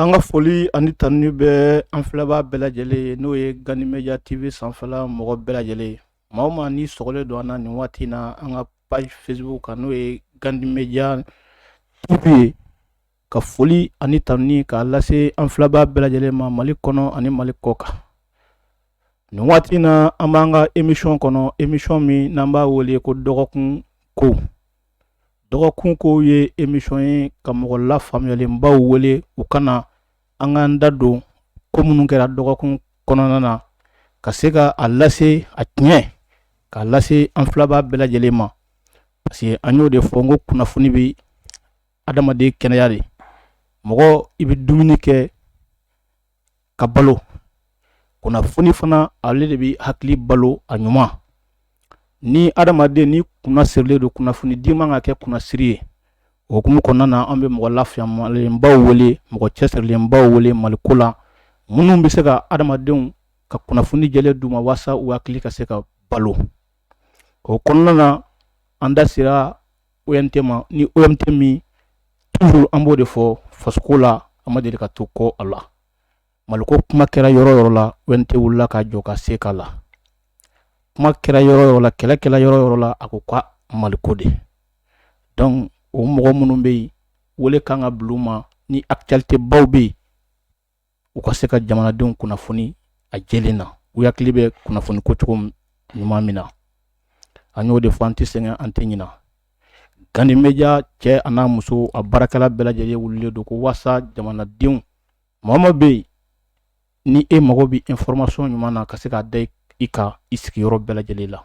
An ka foli ani tanuni bɛ an filɛbaa bɛɛ lajɛlen ye n'o ye gandi media tv sanfɛla mɔgɔ bɛɛ lajɛlen ye maa o maa ni sɔgɔlen don an na nin waati in na an ka page facebook kan n'o ye gandi media tv ye ka foli ani tanuni k'a lase an filɛbaa bɛɛ lajɛlen ma mali kɔnɔ ani mali kɔ kan nin waati in na an b'an ka emisɔn kɔnɔ emisɔn min n'an b'a wele ko dɔgɔkun ko dɔgɔkun ko ye emisɔn ye ka mɔgɔ lafaamuyalenbaw wele u ka na an k'an da don ko minnu kɛra dɔgɔkun kɔnɔna na ka se ka a lase a tiɲɛ k'a lase an filɛbaa bɛɛ lajɛlen ma parce que an y'o de fɔ n ko kunnafoni bɛ adamaden kɛnɛya de mɔgɔ i bɛ dumuni kɛ ka balo kunnafoni fana ale de bɛ hakili balo a ɲuman ni adamaden ni kunna sirilen don kunnafoni di man ka kɛ kunnasiri ye o hukumu kɔnɔna na an bɛ mɔgɔ lafaamuyalenbaw wele mɔgɔ cɛsirilenbaw wele maliko la minnu bɛ se ka adamadenw ka kunnafoni jɛlen d'u ma walasa u hakili ka se ka balo o kɔnɔna na an da sera OMT ma ni OMT min toujours an b'o de fɔ fasoko la a ma deli ka to kɔ a la maliko kuma kɛra yɔrɔ o yɔrɔ la OMT wulila ka jɔ ka se k'a la kuma kɛra yɔrɔ o yɔrɔ la kɛlɛ kɛla yɔrɔ o yɔrɔ la a ko ka maliko de donc o mɔgɔ minnu bɛ yen wele kan ka bila u ma ni actualité baw bɛ yen u ka se ka jamanadenw kunnafoni a jɛlen na u hakili bɛ kunnafoni ko cogo ɲuman min na an y'o de fɔ an tɛ sɛgɛn an tɛ ɲinɛ gandi media cɛ an'a muso a baarakɛla bɛɛ lajɛlen wulilen don ko walasa jamanadenw mɔgɔ o mɔgɔ bɛ yen ni e mago bɛ information ɲuman na ka se k'a da i kan i sigiyɔrɔ bɛɛ lajɛlen la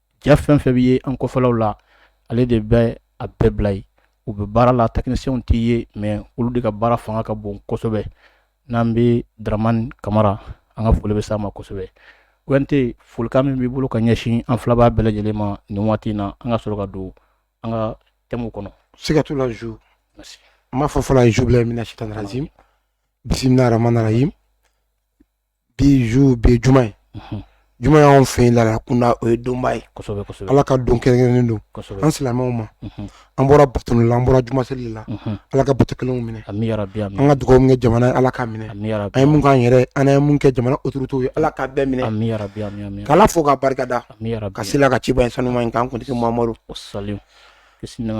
ja fɛn o fɛn bɛ ye an kɔfɛlaw la ale de bɛ a bɛɛ bila yen u bɛ baara la technicienw tɛ ye mais olu de ka baara fanga ka bon kosɛbɛ n'an bɛ dramani kamara an ka foli bɛ s'a ma kosɛbɛ OMT folikan min b'i bolo ka ɲɛsin an filɛbaa bɛɛ lajɛlen ma nin waati in na an ka sɔrɔ ka don an ka thème kɔnɔ siga t'o la zu n b'a fɔ fɔlɔ awuzubilahi mina sitani rajim bisimilahi rahamani rahim bi zu bi ye juma ye juma y'anw fɛ yen laada kunda o ye donba ye ala ka don kɛrɛnkɛrɛnnen don an silamɛw ma an bɔra bato la an bɔra juma seli la ala ka bato kɛlen minɛ an ka dugawu min kɛ jamana ye ala k'a minɛ an ye mun k'an yɛrɛ an ye mun kɛ jamana autoritéw ye ala k'a bɛɛ minɛ k'ala fo k'a barikada ka sel'a ka cibaa in sanuman in kan kuntigi mamadu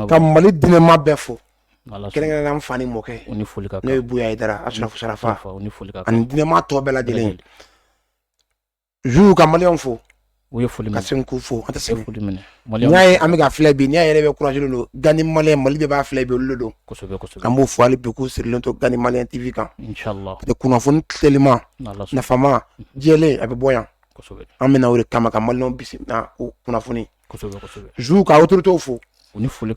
ka mali diinɛmaa bɛɛ fo kɛrɛnkɛrɛn an fa ni mɔkɛ ni foli n'o ye buye hayidara asarafu sarafa ni foli ani diinɛma tɔ bɛɛ lajɛlen zu ka maliyɛnw fo u ye foli ka segin k'u fo an tɛ sɛgɛn foli minɛ n'i y'a ye an bɛ ka filɛ bi n'a yɛrɛ bɛ courage don gandi maliyɛn mali bɛɛ b'a filɛ bi olu don kosɛbɛ kosɛbɛ an b'o fɔ hali bi k'u sirilen to gandi maliyɛn tv kan kunnafoni teliman nafama jɛlen a bɛ bɔ yan an bɛna o de kama ka maliyɛnw bisimila o kunnafoni ka otote fo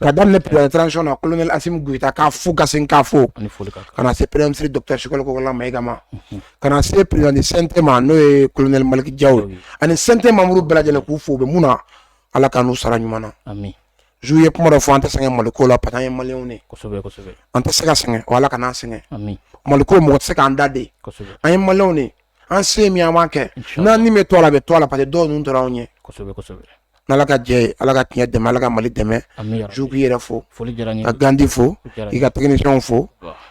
ka daminɛ pɛrɛnsi na kolon gta ka fo ka ka fo ka se pɛrɛnsi dɔkisikolokɔlama ma eka ka se pɛrɛnte ma n'o ye kolonɛli maliki ja ye ani sante mamuru bɛɛ lajɛlen k'u fo bɛ mun na ala ka n'u sara ɲuman na zou ye kuma dɔ fɔ an tɛ sɛgɛn mali ko la pa ye mali an tɛ se ka sɛgɛn ala ka sɛgɛn mali ko mɔgɔ tɛ se k'an da de an ye maliw de an se min an b'a kɛ n'an ni bɛ to a la a bɛ to a la parce que dɔw ninnu tora anw ɲɛ ala ka jɛ ala ka tiɲɛ dɛmɛ ala ka mali dɛmɛ zou k'i yɛrɛ fo ka gandi fo i ka techniciens fo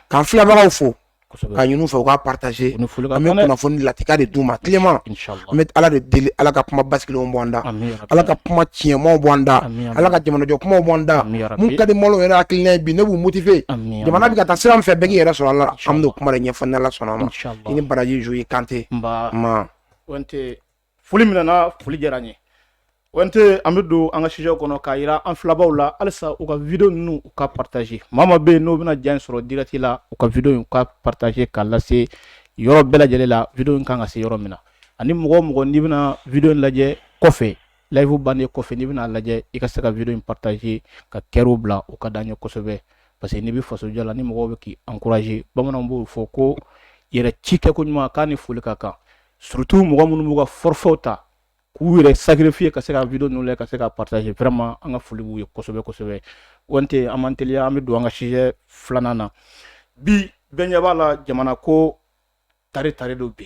k'an filɛbagaw fo k'a ɲini u fɛ u k'a partager an bɛ kunnafoni lakika de d'u ma teliman an bɛ ala de deli ala ka kuma basigilenw bɔ an da ala ka kuma tiɲɛman bɔ an da ala ka jamanajɔ kuma bɔ an da min ka di maliyɛnw yɛrɛ hakili ye min b'u motiver jamana bɛ ka taa sira min fɛ bɛɛ k'i yɛrɛ sɔrɔ a la an bɛn'o kuma de ɲɛfɔ ni ala sɔnna ma i ni baraji zou kante foli minɛna foli diyara n ye omt an bɛ don an ka sujet kɔnɔ k'a jira an filɛbaaw la halisa u ka video ninnu u ka partager maa maa bɛ yen n'o bɛna ja in sɔrɔ direct la u ka video u ka partager k'a lase yɔrɔ bɛɛ lajɛlen la video in kan ka se yɔrɔ min na ani mɔgɔ o mɔgɔ n'i bɛna video lajɛ kɔfɛ live bannen kɔfɛ n'i bɛn'a lajɛ i ka se ka video in partager ka cœur bila o ka d'an ye kosɛbɛ parce que n'i bɛ faso jɔ la ni mɔgɔ bɛ k'i encourager bamananw b'o fɔ ko yɛrɛ ci kɛ ko ɲuman k'a ni foli ka kan surtout mɔgɔ minnu b'u ka forfait ta k'u yɛrɛ sacrifier ka se ka video ninnu lajɛ ka se ka partager vraiment an ka foli b'u ye kosɛbɛ kosɛbɛ omt an b'an teliya an bɛ don an ka sujet filanan na bi bɛɛ ɲɛ b'a la jamana ko tare tare don bi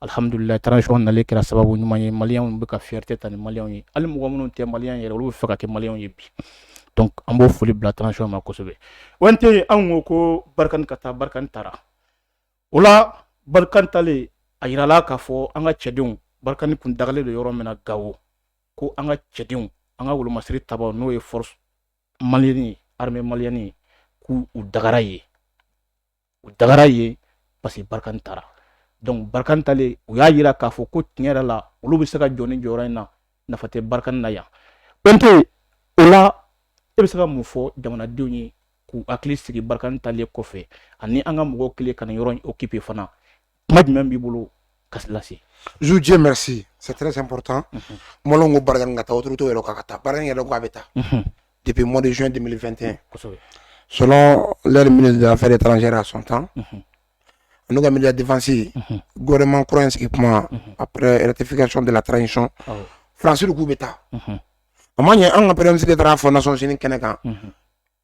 alihamdulila transition nalen kɛra sababu ɲuman ye maliyɛnw bɛ ka fierté ta ni mali ye hali mɔgɔ minnu tɛ maliyɛn yɛrɛ olu bɛ fɛ ka kɛ maliyɛnw ye bi an b'o foli bila transition ma kosɛbɛ omt anw ko ko barikani ka taa barikani taara o la barikani taalen a jirala k'a fɔ an ka cɛdenw barikani kun dagalen don yɔrɔ min na gawo ko an ka cɛdenw an ka wolomasiri ta n'o ye force malienne ye armée malienne ye k'u dagara yen u dagara yen parce que barikani taara donc barikani taalen u y'a jira k'a fɔ ko tiɲɛ yɛrɛ la olu bɛ se ka jɔ nin jɔyɔrɔ in na nafa tɛ barikani na yan omt o la e bɛ se ka mun fɔ jamanadenw ye k'u hakili sigi barikani taalen kɔfɛ ani an ka mɔgɔw kɛlen ka nin yɔrɔ in occuper fana kuma jumɛn b'i bolo ka lase zu diɲɛ mɛsi sɛre sanptan mɔlɔn ko barika ka taa oto to yɛrɛ ka taa baara yɛrɛ ko a bɛ taa depi mɔdizyon de2te so lari minnu fɛ de taara a sɔn tan n'u ka mi defasi gɛman kura in sigi kuma a yɛrɛtific sɔn dela taara sɔn fransi k'u bɛ taa a ma ɲɛ an ka pɛresi taara fɔ na sɔsini kɛnɛ kan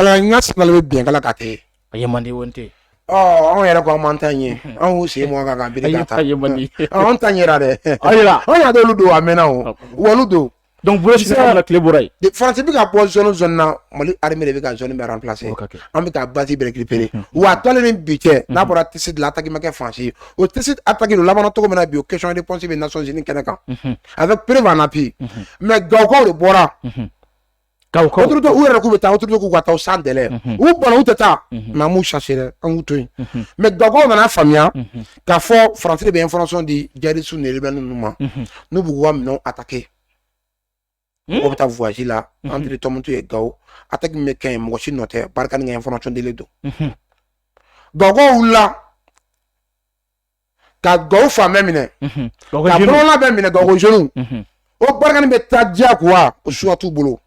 kalan ka saba bɛ bin kala ka kɛ a ye mande wo tɛ anw yɛrɛ ko an man tan ye anw sen mɔgɔ kan ka bi ka taa anw tan yɛrɛ dɛ anw y'a dɔw don a mɛnna o wali don donc bolo sisan ka tile bɔra yen faransi bɛ ka bɔ zone zone na mali armée de bɛ ka zone bɛɛ remplacer an bɛ taa base bɛɛ récupérer wa u taalen ni bi cɛ n'a bɔra Tessit de la attaque ma kɛ faransi ye o Tessit attaque de labɛnna cogo min na bi o question de réponse bɛ nations unies kɛnɛ kan avec preuve en appui mais gawokaw de bɔra Ka ka yɛrɛ k'u bɛ taa k'u ka taa san dɛ u bɔn u tɛ taa mamu sa an to yen mɛ gakaw nana faamuya ka fɔ farafetiri bɛ fana di jarisu ni bɛ ninnu ma n'u b'u wa minɛ a ta kɛ mɔgɔ bɛ taa wwasi la an tɔmmutu ye ga a ta bɛ kɛ mɔgɔ si nɔ tɛ barika ni fana cogo don gakaw la ka gawo fan bɛɛ minɛ mhm. ka bɔlɔla bɛɛ minɛ gawo jeunew mhm. o Barkhane bɛ taa diyagoya o choix t'u bolo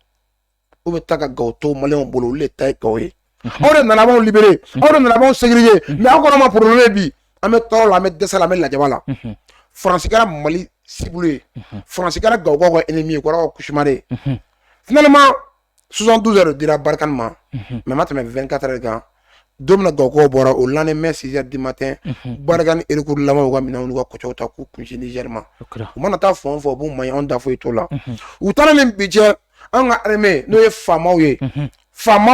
o bɛ taa ka gawo to maliyɛnw bolo olu de ta ye gawo ye mhm. aw de nana b'anw libérer aw de nana b'anw sécuriser mais aw kɛra an ma problème ye bi an bɛ tɔɔrɔ la an bɛ dɛsɛ la an bɛ lajaba la faransi kɛra mali cible ye faransi kɛra gawokaw ka ennemi ye kɛra u ka cauchemar ye finalement sonsan dun yɛrɛ dira barika ma mɛ ma tɛmɛ bɛ kata de kan don ga kɔ bɔra o la mɛ si di ma tɛ barika ni iriku lamɔ ka minɛn ka kɔw ta k'u kun zrima u mana taa fɔ fɔ b'u ma anw da foyi to la u taara min bi jɛ an ka hame n'o ye faama ye faama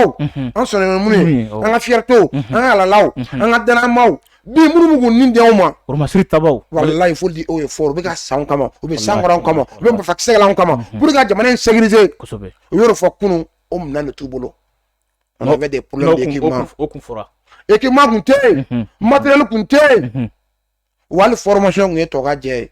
an sɔnna minnu an ka fito an ka alalaw an ka dma Bi minnu bɛ k'u nin di anw ma oromasi ta wallahi faut dire o ye fɔ u bɛ ka sa an kama u bɛ san kɔrɔ an kama u bɛ marifakisɛ la an kama pour ka jamana in sécuriser u yɔrɔ fɔ kunun o minɛn de t'u bolo on avait des problèmes équipement tun tɛ yen matériel tun tɛ yen wali formation tun ye tɔgɔjɛ ye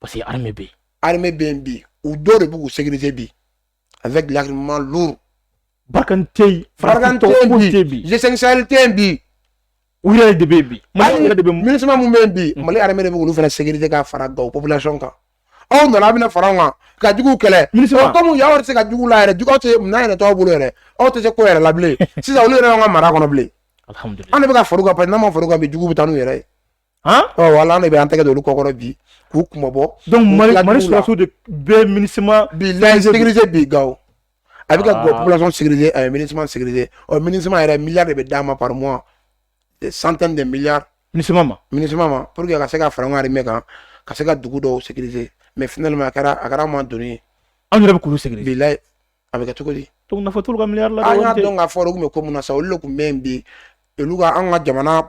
parce que armée bɛ yen armée bɛ yen bi u dɔw de bɛ k'u sécuriser bi avec l'armement lourd Barkhane tɛ yen Barkhane tɛ yen bi G5 Sahel tɛ yen bi u yɛrɛ de bɛ yen bi Mali yɛrɛ de bɛ MINUSMA min bɛ yen bi Mali armée de bɛ k'olu fana sécuriser ka fara gawo population kan aw nana aw bɛna fara anw kan ka juguw kɛlɛ MINUSMA kɔmi y'aw tɛ se ka juguw la yɛrɛ juguw tɛ minɛn yɛrɛ t'aw bolo yɛrɛ aw tɛ se ko yɛrɛ la bilen sisan olu yɛrɛ y'an ka mara kɔnɔ bilen an de bɛ ka fara u kan parce que n'an ma fara u kan bi juguw bɛ taa n'u yɛrɛ ye voilà an de bɛ an tɛgɛ don olu kɔkɔrɔ bi k'u kunmabɔ mali sɔrɔdasiw de bɛ minisima bila sécurité bi gawo a bɛ ka population sécuriser a ye minisima sécuriser ɔ minisima yɛrɛ miliyari de bɛ d'a ma par mois centaine de milliards minisima ma minisima ma pour que a ka se ka fara an ka armée kan ka se ka dugu dɔw sécuriser mais finalement a kɛra a kɛra à un moment donné an yɛrɛ bɛ k'olu sécuriser bilayi a bɛ kɛ cogo di donc nafa t'olu ka miliyari la an y'a dɔn k'a fɔ olu tun bɛ ko mun na sa olu de tun bɛ yen bi olu ka an ka jamana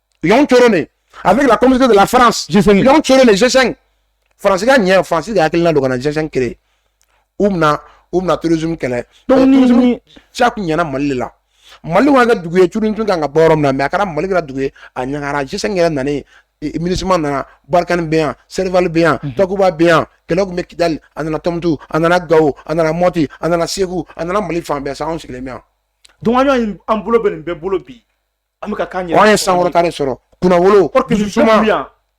Y'an cɔrɔn de, avec la communauté de la France, y'an cɔrɔn de, G5. France ka ɲa France ka hakilina don ka na G5 créer. Mun na, mun na, terrorisme kɛlɛ. Donc, terrorisme caman nana Mali la. Mali wa ka dugu ye curun tun kan ka bɔ yɔrɔ min na mais a kɛra mali kɛra dugu ye a ɲagara G5 yɛrɛ nalen minisima nana Barkhane bɛ yan Serval bɛ yan takuba bɛ yan kɛlɛ tun bɛ kidali a nana tumutu a nana gawo a nana mɔti a nana segu a nana mali fan bɛɛ sa anw sigilen bɛ yan donc an bɔlen bɛ nin bɛɛ bolo bi An bɛ ka gagner. An ye souveraineté sɔrɔ. Kunnawolo. Dusu suma.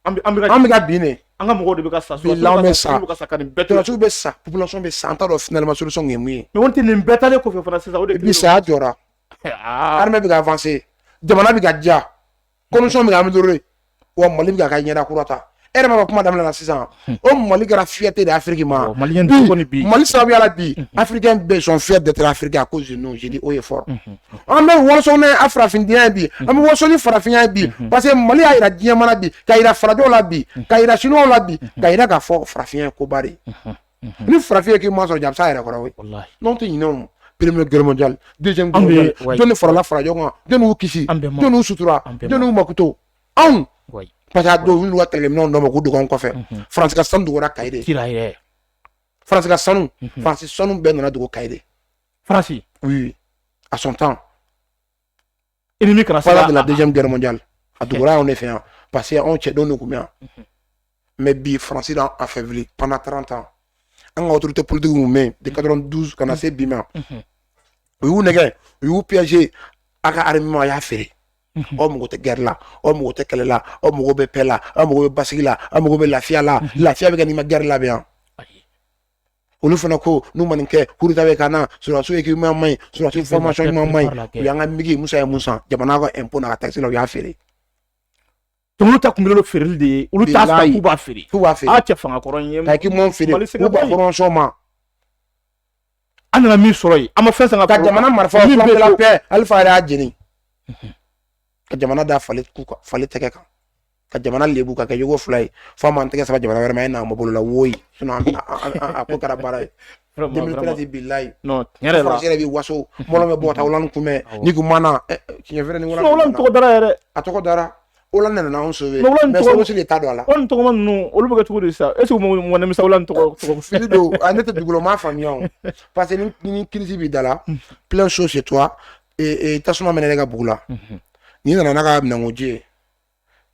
An bɛ ka bin dɛ. An ka mɔgɔw de bɛ ka sa. Bilahi bɛ sa. Sɔrɔdasiw bɛ sa. Population bɛ sa. An t'a dɔn finalement solution ye mun ye. Mais o tɛ nin bɛɛ taalen kɔfɛ fana sisan o de. Bi saya jɔra. Armée bɛ ka avancer. Jamana bɛ ka diya. Condition bɛ ka améliorer. wa mali bɛ ka ɲɛda kura ta e yɛrɛ ma kuma daminɛ na sisan hmm. o mali kɛra fierté de Afrique ma mali sababuya la bi hmm. africains bɛɛ sont fiers d'être africains à cause de nous je dis haut et fort hmm. an bɛ waso ni farafinya bi an bɛ waso ni farafinya bi parce que mali y'a jira diɲɛmaa na bi k'a jira farajɛw la bi k'a jira sinuwaw la bi k'a jira k'a fɔ farafinya ye koba de ni farafin k'i ma sɔrɔ ja a bɛ sa yɛrɛ kɔrɔ n'aw tɛ ɲinɛ première guerre mondiale deuxième guerre mondiale jɔnni farala farajɛw kan jɔnni y'u kisi jɔnni y'u sutura jɔnni y'u makuto anw parce que a dɔw y'u ka kɛlɛminɛnw dɔ ma k'u dogo anw kɔfɛ faransi ka sanu dogora kayi de faransi ka sanu faransi sanu bɛɛ nana dogo kayi de faransi oui à son temps ennemi kana se ka de la deuxième guerre mondiale a dogora anw de fɛ yan parce que anw cɛdenw de tun bɛ yan mais bi faransi y'an affaibli pendant 30 ans an ka autorité politique min bɛ yen de 92 ka na se bi ma u y'u nɛgɛ u y'u piéger a ka armement a y'a feere aw mago tɛ guerre la aw mago tɛ kɛlɛ la aw mago bɛ paix la aw mago bɛ basigi la aw mago bɛ lafiya la lafiya bɛ kɛ n'i ma guerre labɛn olu fana ko n'u ma nin kɛ coup d'État bɛ ka na sɔrɔdasiw équipement man ɲi sɔrɔdasiw formation ɲuman man ɲi u y'an ka migi musa ye min san jamana ka impôt n'a ka takisi la u y'a feere tɔmɔ ta kunkolo feereli de ye olu t'a san k'u b'a feere k'u b'a feere a cɛ fanga kɔrɔ n ye ka k'i m'o feere k'u b'a fɔrɔmasɔn ma an nana min sɔrɔ yen an ma fɛn san an ka jamana marifa flamme de la paix alifa yɛrɛ y'a jeni ka jamana da fali fali tɛgɛ kan ka jamana lebu ka kɛ jogo fila ye fo m'an tɛgɛ saba jamana wɛrɛ ma e n'an bolo la woyi a ko kɛra baara ye deux mille treize bilayi faransi yɛrɛ bi waso mɔgɔ bɛ bɔ ta Hollande kunbɛ ni kun mana tiɲɛ fɛrɛ ni wala Hollande tɔgɔ dara yɛrɛ a tɔgɔ dara Hollande nana anw sauver mais sogosi de ta don a la Hollande tɔgɔma ninnu olu bɛ kɛ cogo di sisan est ce que mɔgɔ nimisa Hollande tɔgɔ fili don ne tɛ dugukolo ma faamuya o parce que ni crise b'i da la plein chose chez toi ee tasuma mɛnɛna e ka bugu la n'i nana n'a ka minɛnkoji ye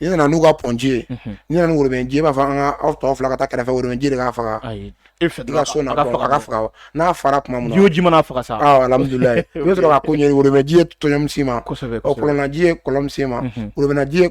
n'i nana n'u ka pɔnji ye n'i nana worobɛnji b'a fɔ an ka aw tɔ fila ka taa kɛrɛfɛ worobɛnji de k'a faga e fɛ ka so na ka faga n'a fara tuma min ji o ji man'a faga sa alhamdulilayi i bɛ sɔrɔ ka ko ɲɛ worobɛnji ye tɔɲɔmisi ma kɔlɔnnaji ye kɔlɔnsi ma worobɛnnaji ye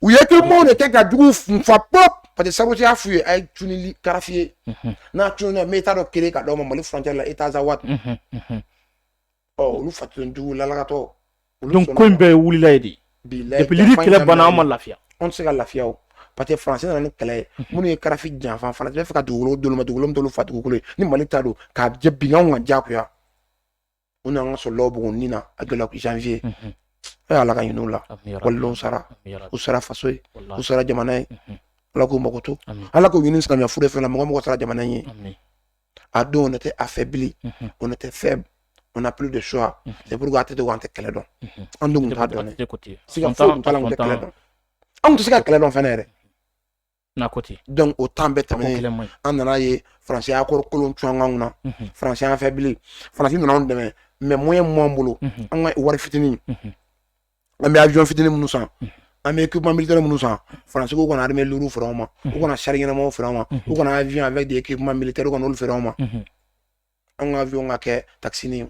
u ye kɛ maaw de kɛ ka jugu nfa pop parce que sabu y'a f'u ye a ye tunili kadafi ye n'a tununna an bɛ État dɔ créer ka d'aw ma mali frontière la État Azawad ɔ olu fatun jugu lalakatɔ donc ko in bɛɛ wulila yen depuis Libye kɛlɛ banna an ma lafiya an tɛ se ka lafiya o parce que faransi nana ni kɛlɛ ye minnu ye kadafi janfa faransi bɛ fɛ ka dugukolo d'olu ma dugukolo dolo fa dugukolo ni mali ta don k'a jɛ binkanw ka jagoya u nana ka sɔrɔ lɔbugu ni na a donna janvier a ala ka hinɛ u la walayi olu sara u sara faso ye u sara jamana ye ala k'u makoto ala ka hinɛ silamɛya fure bɛɛ la mɔgɔ o mɔgɔ sara jamana ye a don on était affaibli on était faible on n'a plus de choix c'est pourquoi a tɛ dogo an tɛ kɛlɛ dɔn an dun t'a dɔn siga foyi t'a la an tɛ kɛlɛ dɔn an tɛ se ka kɛlɛ dɔn fɛnɛ yɛrɛ n'a ko ten donc o temps bɛɛ tɛmɛnen an nana ye faransi y'a kɔrɔ kolon cun an kanw na unhun faransi y'an affaibli faransi nana anw dɛmɛ mais moyen min b'an bolo unhun an ka wari fitinin unhun an bɛ avion fitinin minnu san unhun an bɛ équipement militaire minnu san faransi ko u kana arme lourde feere anw ma u unhun kana char ɲɛnamaw feere anw ma u unhun kana avion avec des équipements militaires u kana olu feere anw ma unhun an ka avion ka kɛ taxini ye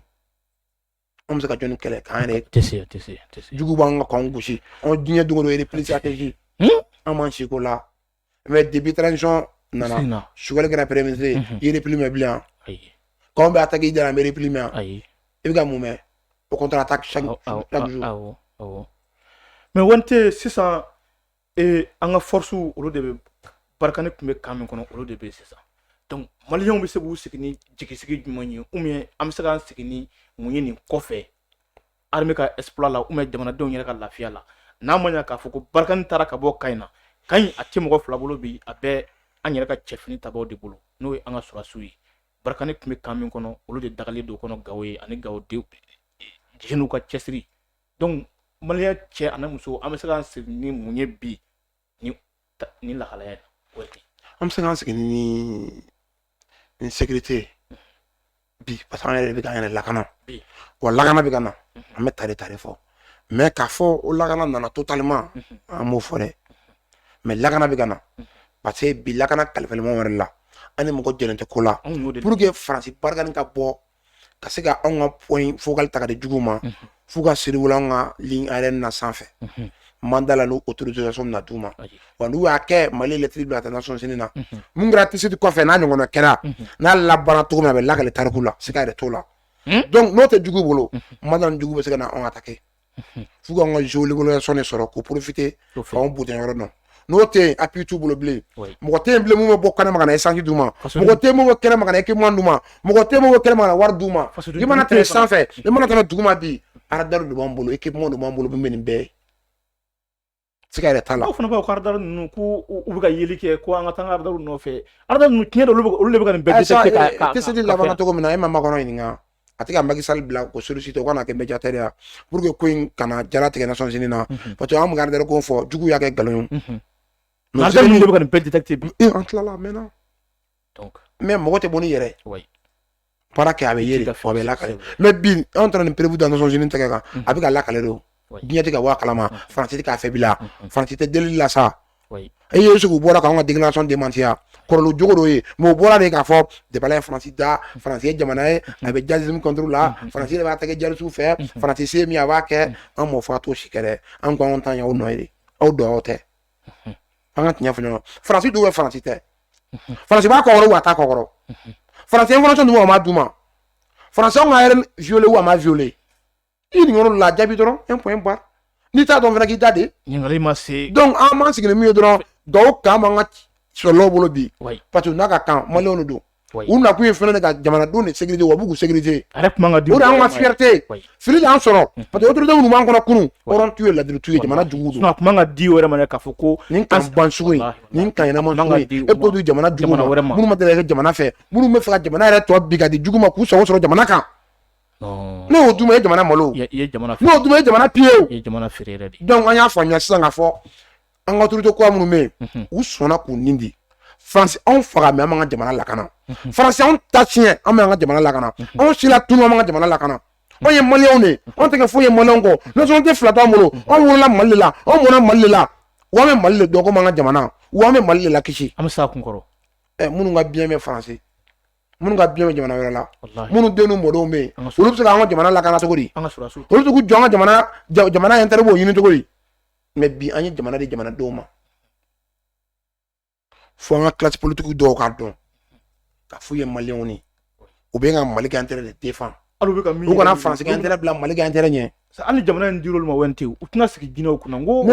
an bɛ se ka jɔni kɛlɛ k'an yɛrɛ tɛ se tɛ se tɛ se jugu b'an ka k'an gosi an diɲɛ don o don erepilisatɛzi an b'an seko la mɛ depi transition nana sugali kɛra pɛrɛmise erepili mɛ bilen k'anw bɛ ataki jara mɛ erepili mɛ i bɛ ka mun mɛn o kɔntara taa mɛ wari tɛ sisan ee an ka forcew olu de bɛ barikani tun bɛ kan min kɔnɔ olu de bɛ sisan donc maliyɛnw bɛ se k'u sigi ni jigisigi jumɛn ye ou bien an bɛ se k'an sigi ni mun ye nin kɔfɛ armée ka exploit la ou bien jamanadenw yɛrɛ ka lafiya la n'a ma k'a fɔ ko barikani taara ka bɔ kan in na kan in a tɛ mɔgɔ fila bolo bi a bɛ an yɛrɛ ka cɛfini tabaw de bolo n'o ye an ka sɔrɔdasiw ye barikani tun bɛ kan min kɔnɔ olu de dagalen don kɔnɔ gawo ye ani gawo jeunes ka cɛsiri donc maliyɛn cɛ ani muso an bɛ se k'an sigi ni mun ye bi ni ni lahalaya o ten an bɛ se k'an sigi ni ni sécurité bi parce que an yɛrɛ bɛ k'an yɛrɛ lakana wa lakana bɛ ka na an bɛ tare tare fɔ mais k'a fɔ o lakana nana totalement an m'o fɔ dɛ mais lakana bɛ ka na parce que bi lakana kalifalen maa wɛrɛ la an ni mɔgɔ jɛlen tɛ ko la pour que faransi Barkhane ka bɔ ka se ka anw ka point focal ta ka di jugu ma f'u ka survoler an ka ligne aérienne na sanfɛ mandat la n'o autorisation ma d'u ma wa n'u y'a kɛ mali lettre bila ka taa Nations Unies na mun kɛra Tessit kɔfɛ n'a ɲɔgɔn kɛra n'a labanna cogo min a bɛ lakali tariku la siga yɛrɛ t'o la donc n'o tɛ jugu bolo maintenant jugu bɛ se ka na anw attaquer f'u k'an ka géolocalisation de sɔrɔ k'o profiter f'anw butɛn yɔrɔ dɔn n'o tɛ yen appui t'u bolo bilen mɔgɔ tɛ yen bilen min bɛ bɔ kɛnɛma ka na essence d'u ma mɔgɔ tɛ min bɛ kɛnɛma ka na équipement d'u ma mɔgɔ tɛ min bɛ kɛnɛma ka na wari d'u ma i mana tɛmɛ sanfɛ i mana tɛmɛ duguma bi radar de b'an bolo équipement de b'an bolo min bɛ nin bɛɛ ye siga yɛrɛ t'a la aw fana b'aw ka radar ninnu ko u bɛ ka yeli kɛ ko an ka taa radar nɔfɛ radar ninnu tiɲɛ de olu de bɛ ka nin bɛɛ détecter ka Tessit labanna cogo min na e ma Macron ɲininka a tɛ ka Macky Sall bila k'o solliciter o ka na kɛ médiateur ye pour que ko in kana jala tigɛ Nations Unies na parce que an bɛ ka radar ko fɔ jugu y'a kɛ nkalon ye radar ninnu de bɛ ka nin bɛɛ détecter bi an tilala a mɛnna mais mɔgɔ tɛ bɔ ni yɛrɛ baara kɛ a bɛ ye fɔ a bɛ lakale mais bi anw taara nin preuve da Nations Unies tɛgɛ kan a bɛ ka lakale de diɲɛ tɛ ka bɔ a kalama faransi tɛ k'a fɛ bila faransi tɛ deli la sa e ye sigi bɔra k'an ka déclaration démenti kɔrɔ jugu dɔ ye mais o bɔra de k'a fɔ de ye faransi da faransi ye jamana ye a bɛ djihadisme contre la faransi de b'a tɛgɛ djihadisme fɛ faransi se min a b'a kɛ an m'o fɔ a t'o si kɛ dɛ an ko anw tan aw nɔ ye aw don aw tɛ an ka tiɲɛ fɔ ɲɔgɔn faransi don wa faransi tɛ faransi b'a kɔkɔrɔ wa a t'a kɔkɔrɔ faransi information d'u ma wa a ma d'u ma faransi anw ka aérien violer wa a ma violer i nin yɔrɔ la jaabi dɔrɔn un point barre n'i t'a dɔn fana k'i da de ɲininkali ma se donc an b'an sigi ni min ye dɔrɔn dugawu k'an b'an ka soldats bolo bi parce que n'a ka kan maliyɛnw de don u nakun ye fɛnɛ ka jamanadenw de sécuriser wa u b'u sécuriser a yɛrɛ kuma ka di o de y'an ka fierté fili de y'an sɔrɔ parce que autorité minnu b'an kun na kunun hɔrɔn t'u ye ladiri t'u ye jamana jugu don a kuma ka di o yɛrɛ ma dɛ k'a fɔ ko nin kan ban sugu in nin kan ɲɛnama sugu in e b'o di jamana jugu ma minnu ma deli ka kɛ jamana fɛ minnu bɛ fɛ ka jamana yɛrɛ tɔ bi ka di jugu ma k'u sago sɔrɔ jamana kan ne y'o duma ye jamana malo n'o duma ye jamana piller donc an y'a faamuya sisan ka fɔ an ka autorité kura minnu bɛ yen u sɔnna k'u nin di faransi anw faga mais an b'an ka jamana lakana faransi anw ta tiɲɛ an bɛ an ka jamana lakana anw silatunu an b'an ka jamana lakana anw ye maliyɛnw de anw tɛ kɛ foyi ye maliyɛnw kɔ nationalité fila t'an bolo anw wolola mali de la anw mɔna mali de la wa an bɛ mali de dɔn komi an ka jamana wa an bɛ mali de lakisi an bɛ s'a kun kɔrɔ ɛ minnu ka biens bɛ faransi minnu ka biens bɛ jamana wɛrɛ la minnu den n'u mɔdenw bɛ yen olu bɛ se k'an ka jamana lakana cogo di olu bɛ se k'u jɔ an ka jamana jamana intérêt b'o ɲini cogo di mais bi an ye jamana di jamanadenw ma fo an ka classe politique dɔw k'a dɔn k'a f'u ye maliyɛnw ni u bɛ ka mali ka intérêt de défend hali bɛ ka min u kana faransi ka intérêt bila mali ka intérêt ɲɛ hali jamana in dir'olu ma wɛrɛ tɛ u tɛna sigi jinɛw kunna ko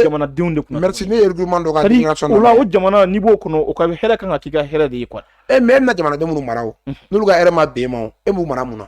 jamanadenw de kunna merci ne ye regroupement dɔ ka déclaration o la o jamana n'i b'o kɔnɔ o ka hɛrɛ kan ka k'i ka hɛrɛ de ye quoi e mais e bɛna jamanaden minnu mara o n'olu ka hɛrɛ ma bɛn e ma o e b'u mara mun na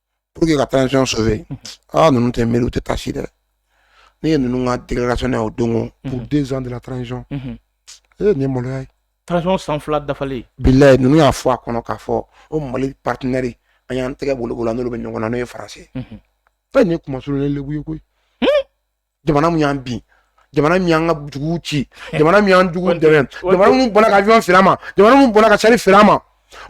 pour que ka transition sauver ah ninnu tɛ miiri u tɛ taasi dɛ ne ye ninnu ka déclaration ye o don ko pour mhm. deux ans de la transition mhm. ee nin ye maloya ye transition san fila dafalen bilayi ninnu y'a fɔ a kɔnɔ k'a fɔ o mali partenaire an y'an tɛgɛ b'olu la n'olu bɛ ɲɔgɔn na n'o ye faransi ye fɛn nin ye kuma surunnen lebu ye koyi jamana min y'an bin jamana min y'an ka duguw ci jamana min y'an juguw dɛmɛ jamana min banna ka avion feere an ma jamana min banna ka char feere an ma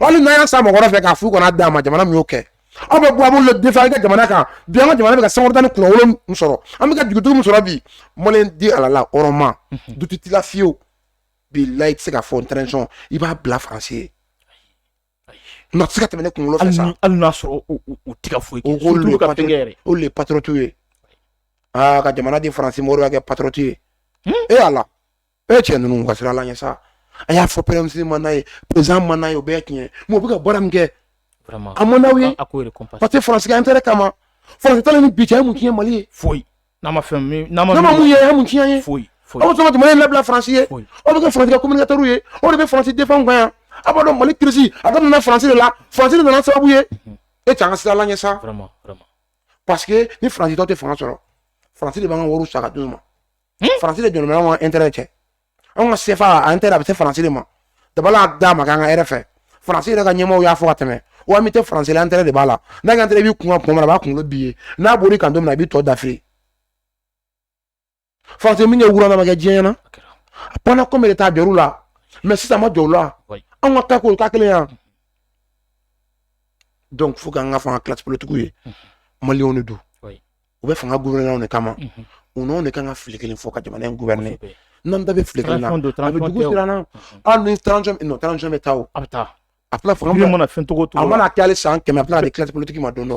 hali n'an y'a san mɔgɔ wɛrɛ fɛ k'a f'u kana d'an ma jamana min y'o kɛ aw bɛ bɔ a b'olu défend an ka jamana kan bi an ka jamana bɛ ka sankɔrɔta ni kunnawolo min sɔrɔ an bɛ ka dignité min sɔrɔ bi maliyɛn di ala la hɔrɔnma mhm. doute t'i la fiyewu bilayi i tɛ se k'a fɔ transition i b'a bila faransi ye se ka tɛmɛ ne kunkolo hali n'a sɔrɔ tɛ foyi ye patriote ye aa ka jamana di faransi ma o b'i kɛ patriote ye e ala e cɛ ninnu ka siran ala ɲɛ sa a y'a fɔ président man d'a ye pm man d'a ye o bɛɛ tiɲɛ mais u bɛ ka baara min kɛ a man d'aw ye parce que faransi ka intérêt kama faransi taalen ni bi cɛ ye mun tiɲɛ mali ye foyi n'a ma fɛn min n'a ma mun ye mun tiɲɛ ye foyi foyi aw sɔn ka jamana in labila faransi ye aw bɛ kɛ faransi ka communicateur ye aw de bɛ faransi défend kan yan aw b'a dɔn mali crise a daminɛna faransi de la faransi de nana sababu ye mhm. e cɛ an ka siran ala ɲɛ sa parce que ni faransi tɛ u tɛ fanga sɔrɔ faransi de b'an ka wariw sa ka d'u ma faransi de jɔlen bɛ an ka intérêt cɛ anw ka sefa intérêt a bɛ se faransi de ma dabala d'a ma k'an ka hɛrɛ fɛ faransi yɛrɛ ka ɲɛmɔgɔw y'a fɔ ka tɛmɛ wa ami tɛ faransi la intérêt de b'a la n'a ka intérêt b'i kun kuma min na a b'a kunkolo b'i ye n'a bɔr'i kan don min na a b'i tɔ dafiri faransi min kɛ rwanda ma kɛ diɲɛ ɲɛ na pendant combien de temps a jɔr'u la mais sisan ma jɔ u la anw ka taa k'o ka kelen yan donc fo k'an k'a fɔ an ka classe politique ye maliyɛnw de don u bɛ fanga gna de kama u de kan ka fili kelen fɔ ka jamana in gɛ ne n'an da bɛ fili bɛ taa a taa a fanga mana fɛncogo a mana kɛale san kɛmɛ a de kitigi ma don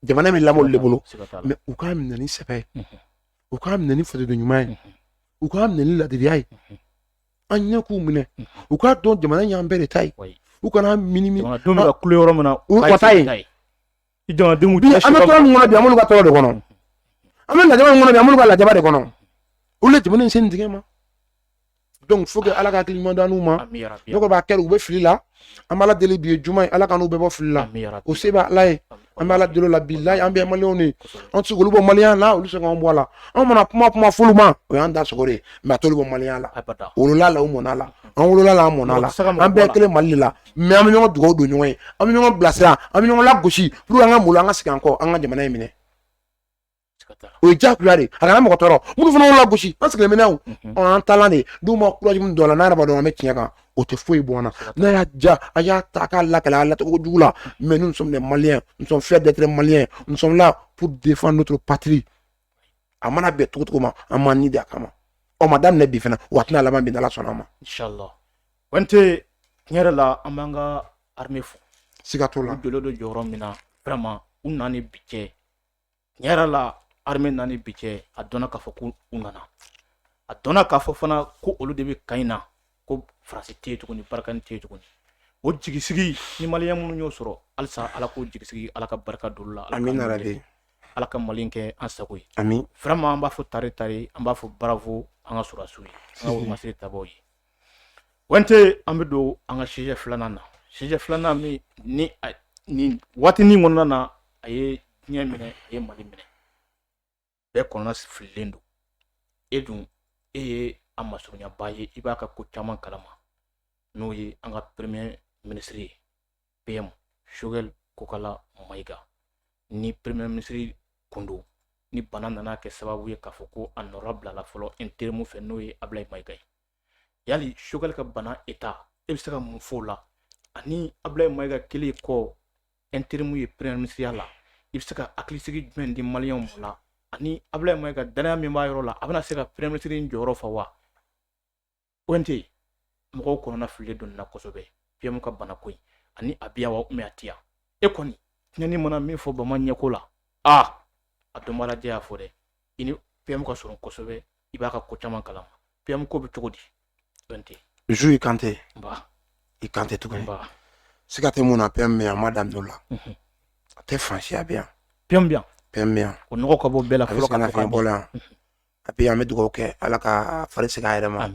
jamana min lamɔ de bolo mɛ u k'a minɛ ni sɛbɛn ye u k'a minɛ ni fajdo ɲuman ye u k'a minɛ ni ladiya ye an ɲɛ k'u minɛ u k'a dɔn jamana ɲan bɛɛ de ta ye u kana mini ka yɔrɔ min na u ka taa yen i jamanadenw bi an bɛ tɔɔrɔ min kɔnɔ bi an b'olu ka tɔɔrɔ de kɔnɔ an bɛ lajaba min kɔnɔ bi an b'olu ka lajaba de kɔnɔ olu le jamana in sen tigɛ ma donc faut que ala ka hakili ɲuman d'an n'u ma ne kɔni b'a kɛ u bɛ fili la an b'ala deli bi ye juma ye ala k'an n'u bɛɛ bɔ fili la o se bɛ ala ye an bɛ ala deli o la bilayi an bɛɛ maliyɛnw de ye an tɛ se k'olu bɔ maliyɛnya la olu tɛ se k'an bɔ a la an mana kuma kuma f'olu ma o y'an da sogo de ye mais a t'olu bɔ maliyɛnya la u wolola la u mɔna la an wolola la an mɔna la an bɛɛ kelen mali de la mais an bɛ ɲɔgɔn dugawu don ɲɔgɔn ye an bɛ ɲɔgɔn bilasira an bɛ ɲɔgɔn lagosi pour que an ka malo an ka segin an kɔ an ka jamana in minɛ o ye diyagoya de ye a kana mɔgɔ tɔɔrɔ minnu fana y'u lagosi an sigilen bɛ n'a ye an taalan de n'u ma courage min don a la n'a yɛrɛ b'a dɔn an bɛ tiɲɛ kan o tɛ foyi bɔ an na n'a y'a ja a y'a ta k'a lakali a lacogo jugu la mais nous sommes des maliens nous sommes fiers d'être maliens nous sommes là pour défendre notre patrie a mana bɛn cogo cogo ma an b'an ni di a kama o ma daminɛ bi fana wa a tɛna laban bi n'ala sɔnna a ma Wante tiɲɛ yɛrɛ la an b'an ka armée fo siga t'o la u jɔlen don jɔyɔrɔ min na vraiment u nana ni bi cɛ tiɲɛ yɛrɛ la armée nana ni bi cɛ a dɔnna k'a fɔ ko u nana a dɔnna k'a fɔ fana ko olu de bɛ kan in na ko faransi tɛ yen tuguni barikani tɛ yen tuguni o jigisigi nin maliyɛn minnu y'o sɔrɔ halisa ala k'o jigisigi ala ka barika don olu la ala Amin ka yarabi. nɔgɔya ala ka mali in kɛ an sago ye amin vraiment an b'a fɔ tare tare an b'a fɔ bravo an ka sɔrɔdasiw ye an ka wolomasiri tabaaw ye wante an bɛ don an ka sujet filanan na sujet filanan min nin waati nin kɔnɔna na a ye diɲɛ minɛ a ye mali minɛ bɛɛ kɔnɔna fililen don e dun e ye a masurunyaba ye i b'a ka ko caman kalama n'o ye an ka premier ministre ye PM Choguel Kokala Maïga ni premier ministre kun don ni bana nana kɛ sababu ye k'a fɔ ko a nɔra bilala fɔlɔ intérim fɛ n'o ye Ablaye Maïga ye yali Choguel ka bana état e bɛ se ka mun fɔ o la ani Ablaye Maïga kɛlen kɔ intérim ye premier ministre la i bɛ se ka hakilisigi jumɛn di maliyɛnw la ani Ablaye Maïga danaya min b'a yɔrɔ la a bɛna se ka premier ministre jɔyɔrɔ fa wa Kante mɔgɔw kɔnɔna fililen don nin na kosɛbɛ PM ka bana ko in ani a bɛ yan wa ubiyɛn a tɛ yan e kɔni tinɛnin mana min fɔ bama ɲɛko la aa a dɔnbaalajɛ y'a fɔ dɛ i ni PM ka surun kosɛbɛ i b'a ka ko caman kalama PM ko bɛ cogo di ONT Zu i Kante nba i Kante tuguni nba siga tɛ mun na PM bɛ yan a ma dan dɔ la Mhm. a tɛ Faransi a bɛ yan PM bɛ yan PM bɛ yan o nɔgɔ ka bɔ bɛɛ la a bɛ fɔlɔ sɛgɛnna fiɲɛ bɔ la yan et puis an bɛ dugawu kɛ ala k'a fari segin a yɛrɛ ma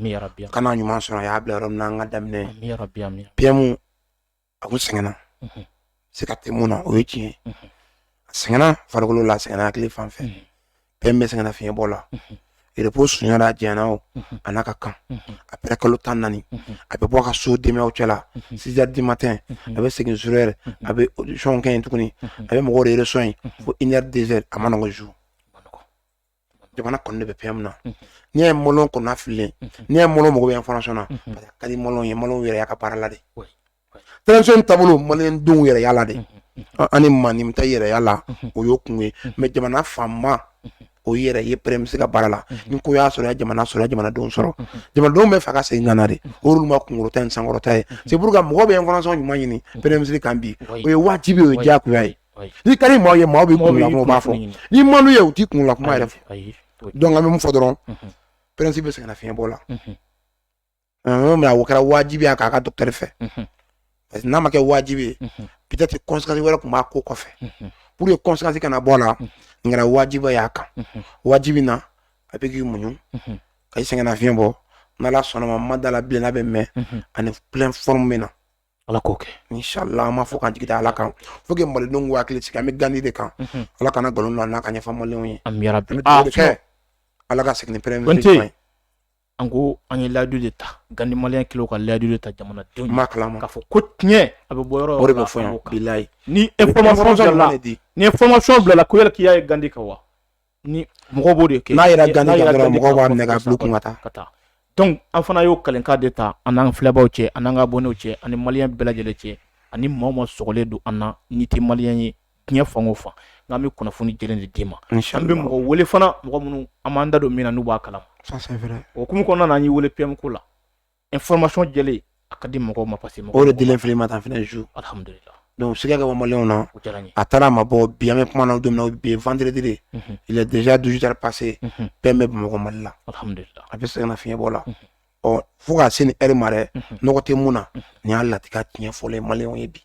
ka na ɲuman sɔrɔ a y'a bila yɔrɔ min na an ka daminɛ PM a kun sɛgɛnna mhm. siga tɛ mun na o ye tiɲɛ mhm. a sɛgɛnna farikolo la a sɛgɛnna hakili fan fɛ mhm. PM bɛ sɛgɛnna fiɲɛ bɔ la repos sunyara a jɛna o a n'a ka kan après kalo tan ni naani a bɛ bɔ a ka so denbayaw cɛla six heures du matin a bɛ segin zéro heure a bɛ audition kɛ yen tuguni a bɛ mɔgɔw de reçoit yen fo une heure deux heures a man nɔgɔ Zu jamana kɔni bɛ PM na n'i ye mɔɔlu kɔnɔ fililen n'i ye mɔɔlu mako bɛ information na parce que a ka di mɔɔlu ye mɔɔlu yɛrɛ y'a ka baara la de transition taabolo malidenw yɛrɛ y'a la de ani maa min t'a yɛrɛ y'a la o y'o kun ye mais jamana fanba o yɛrɛ ye premier ministre ka baara la ni ko y'a sɔrɔ jamana sɔrɔ jamanadenw sɔrɔ jamanadenw b'a fɛ a ka segin ka na de olu ma kunkɔrɔta ni sankɔrɔta ye c'est pourquoi mɔgɔ bɛ information ɲuman ɲini premier ministre kan bi o ye wajibi o ye diyagoya ye n'i ka di maa ye maa b'i kun la kumaba fɔ n'i man d'u ye u t'i kun la kuma yɛrɛ fɔ donc an bɛ mun fɔ dɔrɔn mhm. premier ministre bɛ sɛgɛnna fiɲɛ bɔ la mhm. mais o kɛra wajibi ye k'a ka dɔkitɛri fɛ mhm. parce que n'a ma kɛ wajibi ye peut-être conséquence wɛrɛ tun b'a ko kɔfɛ pour que conséquence kana bɔ a la nin kɛra wajibi y'a kan wajibi na a bɛ k'i muɲu ka i sɛgɛnna fiɲɛ bɔ n'ala sɔnna a ma n ma da a la bilen n'a bɛ mɛɛn a ni pleine forme bɛ na Ala k'o kɛ inshallah an m'a fɔ ka jigin ala kan faut que malidenw k'u hakili sigi an bɛ gandi de kan ala kana nkalon don n'a ka ɲɛfɔ maliyɛnw ye an bɛ dugawu kɛ ala ka segin pɛ an ko an ye layidu de ta gandi maliyɛn kulu ka layidu de ta jamanadenw b'a kalama k'a fɔ ko tiɲɛ a bɛ bɔ yɔrɔ o de bɛ fɔ yan bilayi ni information bilala ko yala k'i y'a ye gandi kan wa ni mɔgɔ b'o de kɛ n'a yera gandi kan dɔrɔn mɔgɔ b'a minɛ k'a bila kun ka taa ka taa dɔnku an fana y'o kalenkan de ta an n'an filɛbaw cɛ an ka abonnés cɛ ani maliyɛn bɛɛ lajɛlen cɛ ani maa o maa sogolen don an na n'i tɛ maliyɛn ye diɲɛ fan o fan n'an bɛ kunnafoni jɛlen de d'i ma an bɛ mɔgɔ weele fana mɔgɔ minnu an b'an da don min na n'u b'a kalama o hukumu kɔnɔna na an y'i weele PM ko la ɛ fmasi jeli a ka di mɔgɔ ma parce o de deli fili ma tan fana su dɔnku sɛgɛ ka bɔ na a taara ma bɔ biyami kuma na don bi fanteredire dez dusuja pase bɛn bɛ mɔgɔ mali la a bɛ se ka fiɲɛɲɛ bɔ la ɔ fo k'a se ni eri ma dɛ n nɔgɔ tɛ min na ni y'a latigɛ tiɲɛ fɔlɔ ye mali ye bi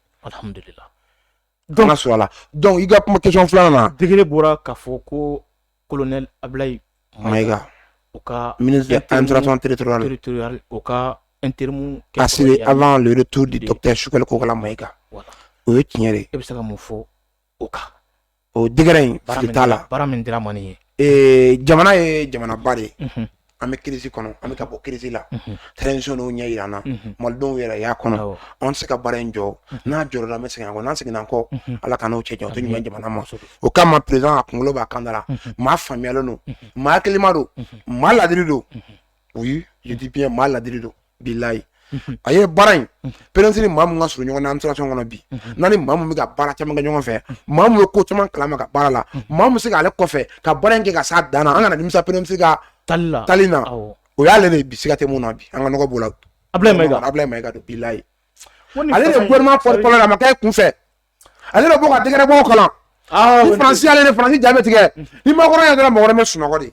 don ka su a la dɔnku i ka kuma kecon filanan na digi bɔra ka fɔ ko kolonɛ abiyi ma u ka tiriur u ka n terimu ka sini a b'an tu de tɛ sukali kokala ma ika o ye tiɲɛ de e bɛ se ka mun fɔ o kan o dra in t'a la baara min dira man ye ee jamana ye jamanaba de ye an bɛ crise kɔnɔ an bɛ ka bɔ crise la transition n'o ɲɛ jira an na malidenw yɛrɛ y'a kɔnɔ an tɛ se ka baara in jɔ n'a jɔra an bɛ segin kɔ n'an seginna kɔ ala ka n'o cɛ jɔ ɲuman jamana ma o kama président a kunkolo b'a kan da la maa faamuyalen don maa hakilima don maa ladiri don oui je dis bien maa ladiri don bilayi a ye baara in président ni maa min ka surun ɲɔgɔn na administration kɔnɔ bi n'a ni maa min bɛ ka baara caman kɛ ɲɔgɔn fɛ maa min bɛ ko caman kalama ka baara la maa min bɛ se k'ale kɔfɛ ka baara in kɛ ka s'a dan na an kana nimisa président ka tali na o y'ale de bi siga tɛ min na bi an ka b'o la Ablaye Maïga don bilayi ale de gouvernement porte-parole a ma kɛ kun fɛ ale bɛ bɔ ka décret bɔ kalan faransi ale de faransi jaabi tigɛ ni Macron yɛrɛ mɔgɔ bɛ sunɔgɔ de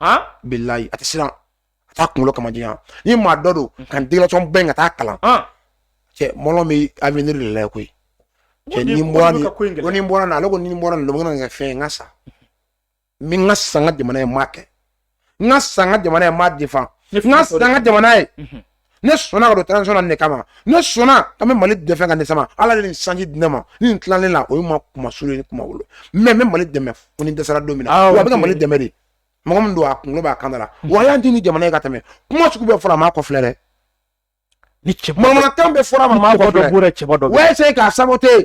han bilayi a tɛ siran a t'a kunkolo kama diyan ni maa dɔ don ka nin déclaration bɛn ka taa kalan han cɛ mɔlɔ bɛ avenir de la koyi cɛ ni n bɔra nin ko in gɛlɛya. ko ni n bɔra nin ale ko ni n bɔra nin na, o bɛ na kɛ fɛn ye n ka sa n bɛ n ka sa n ka jamana ye n m'a kɛ n ka sa n ka jamana ye n m'a defan Ni n ka sa n ka jamana ye ne sɔnna ka don transition na nin de kama ne sɔnna ka bɛ mali dɛmɛ ka ne sama ala de nin chance di ne ma ni nin tilalen la o ye ma kuma sulu ni kuma wolo mɛ n bɛ mali dɛmɛ fo ni n dɛsɛra don min na wa a bɛ ka mali dɛmɛ de mɔgɔ min don a kunkolo b'a kan da la wa a y'an di ni jamana ye ka tɛmɛ kuma sugu bɛɛ fɔra a m'a kɔfilɛ dɛ ni cɛ manamanakan bɛɛ fɔra a ma a m'a kɔfilɛ wa essayer k'a saboter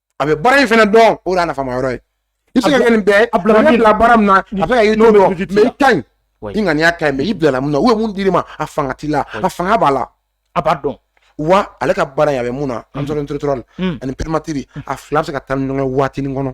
a bɛ baara in fɛnɛ dɔn o de y'a nafama yɔrɔ ye i bɛ se ka kɛ nin bɛɛ a bila baara min na a bɛ ka yiri dɔn mɛ i ka ɲi i ŋaniya ka ɲi mɛ i bilala mun na u ye mun d'i ma a fanga t'i la a fanga b'a la a b'a dɔn wa ale ka baara in a bɛ mun na administration territoriale ani primature a fila bɛ se ka taa ni ɲɔgɔn ye waatinin kɔnɔ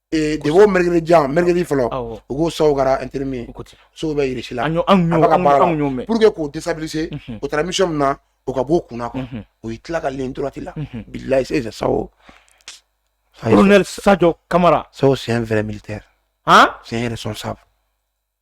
de b'o mri jan mri fɔlɔ u ko sa kɛra an terire sow bɛ jiri la pur que k'o disa o taara misi min na o ka b'o kunna kɔnɔ o ye tila ka len torati la bilala sa sa sajɔ kamara sa sen fɛrɛ mili tɛ tiɲɛ yɛrɛ sɔn sa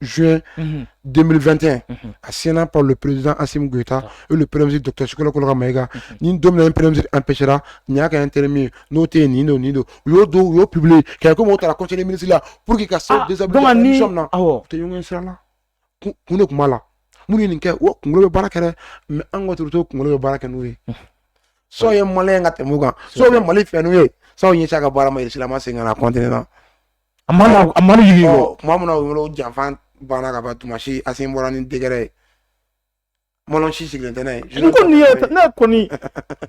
juin 2021 a signéna par le président Assimi Goïta et le premier ministre docteur Choguel Kokalla Maïga ni don min na premier ministre empêchera nin y'a ka intérimaire ye n'o tɛ yen nin don nin don u y'o don u y'o publier k'a komi o taara conseil des ministres la pour que ka se déstabilisation min na u tɛ ɲɔgɔn sira la kun de tun b'a la minnu ye nin kɛ o kunkolo bɛ baara kɛ dɛ mais an ka dɔgɔtɔrɔ kunkolo bɛ baara kɛ n'u ye Sadio ye maliyɛn ka tɛmɛ u kan Sadio bɛ mali fɛ n'u ye Sadio ɲɛsin a ka baara ma Irisi la a ma segin ka na kɔntɛnɛ na A ma na a ma na yir'i la. Tuma min na u wele ko janfa banna ka ban tuma si Asimi bɔra ni décret ye mɔgɔ si sigilen tɛ n'a ye N ko nin ye ne kɔni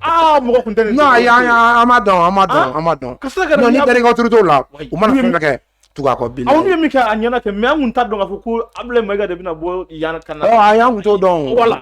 aa mɔgɔ kun tɛ nin dɔn ayi an an m'a dɔn an m'a dɔn an m'a dɔn ka se ka non ni bɛrɛ ka turu t'o la u mana fɛn fɛn kɛ tugu a kɔ bilen aw ye min kɛ a ɲɛna kɛ mais an kun t'a dɔn k'a fɔ ko Abulayi Mayiga de bɛna bɔ yan ka na ɔ ayi an kun t'o dɔn o voilà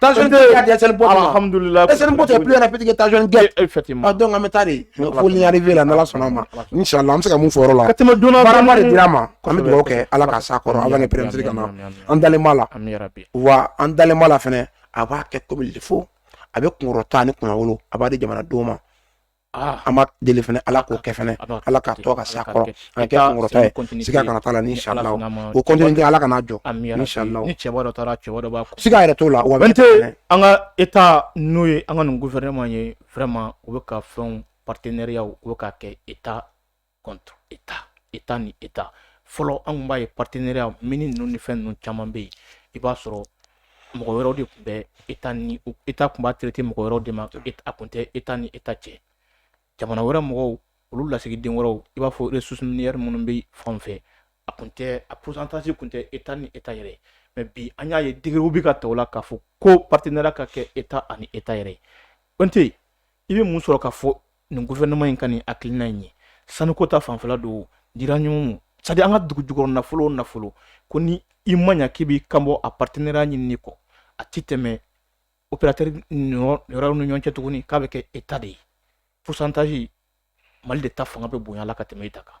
Tan sɔnni tɛ ka dɛsɛ bɔ alihamudulila dɛsɛ bɔ est plus rapide que tan sɔnni tɛ effectivement donc an bɛ taa de faut y arriver là n'ala sɔnna ma inshallah an bɛ se ka mun fɔ yɔrɔ la ka tɛmɛ don na baaraba de dira ma an bɛ dugawu kɛ ala ka s'a kɔrɔ avant que premier ministre ka na an dalen b'a la wa an dalen b'a la fɛnɛ a b'a kɛ comme il faut a bɛ kunkɔrɔta ni kunnawolo a b'a di jamanadenw ma Ah. an b'a deli fɛnɛ ala k'o kɛ fɛnɛ ah, ala ka to ka s'a kɔrɔ a kɛ kunkɔrɔta ye siga kana t'a la inshallah o continuité ala kana jɔ inshallah siga yɛrɛ t'o la wa bɛ tɛ an ka état n'o ye an ka nin gouvernement ye vraiment u bɛ ka fɛnw partenariat u bɛ ka kɛ état contre état état ni état fɔlɔ an kun b'a ye partenariat mine ninnu ni fɛn ninnu caman bɛ yen i b'a sɔrɔ mɔgɔ wɛrɛw de tun bɛ état ni état tun b'a traité mɔgɔ wɛrɛw de ma a tun tɛ état ni état cɛ jamana wɛrɛ mɔgɔw olu lasigiden wɛrɛw i b'a fɔ ressources minières minnu bɛ fan fɛ a tun tɛ a pourcentage kun tɛ état ni état yɛrɛ mais bi an y'a ye décretw bɛ ka ta o la k'a fɔ ko partenariat ka kɛ état ani état yɛrɛ ye o tɛ yen i bɛ mun sɔrɔ k'a fɔ nin gouvernement in ka nin hakilina in ye sanuko ta fanfɛla don uranium c'est-à-dire an ka dugu jukɔrɔ nafolo o nafolo ko ni i ma ɲa k'i b'i kanbɔ a partenariat ɲinini kɔ a ti tɛmɛ opérateur yɔrɔw ni ɲɔgɔn cɛ tuguni k'a bɛ kɛ état de ye pourcentage Mali de ta fanga bɛ bonya la ka tɛmɛ état kan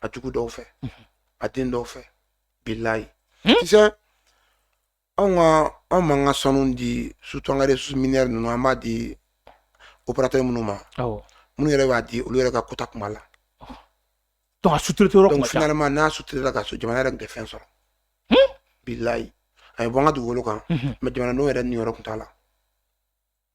a jugu dɔw fɛ a den dɔw fɛ bilayi hmm? tu sais anw ka anw m'an ka sanu di surtout an ka ressources minières ninnu an b'a di opérateur minnu ma minnu yɛrɛ b'a di olu yɛrɛ ka quota kuma la donc a sous-traité yɔrɔ kuma finalement n'a sous-traitéla ka so jamana yɛrɛ tun tɛ fɛn sɔrɔ hmm? bilayi a ye bɔ an ka dugukolo kan mais jamanadenw yɛrɛ niyɔrɔ tun t'a la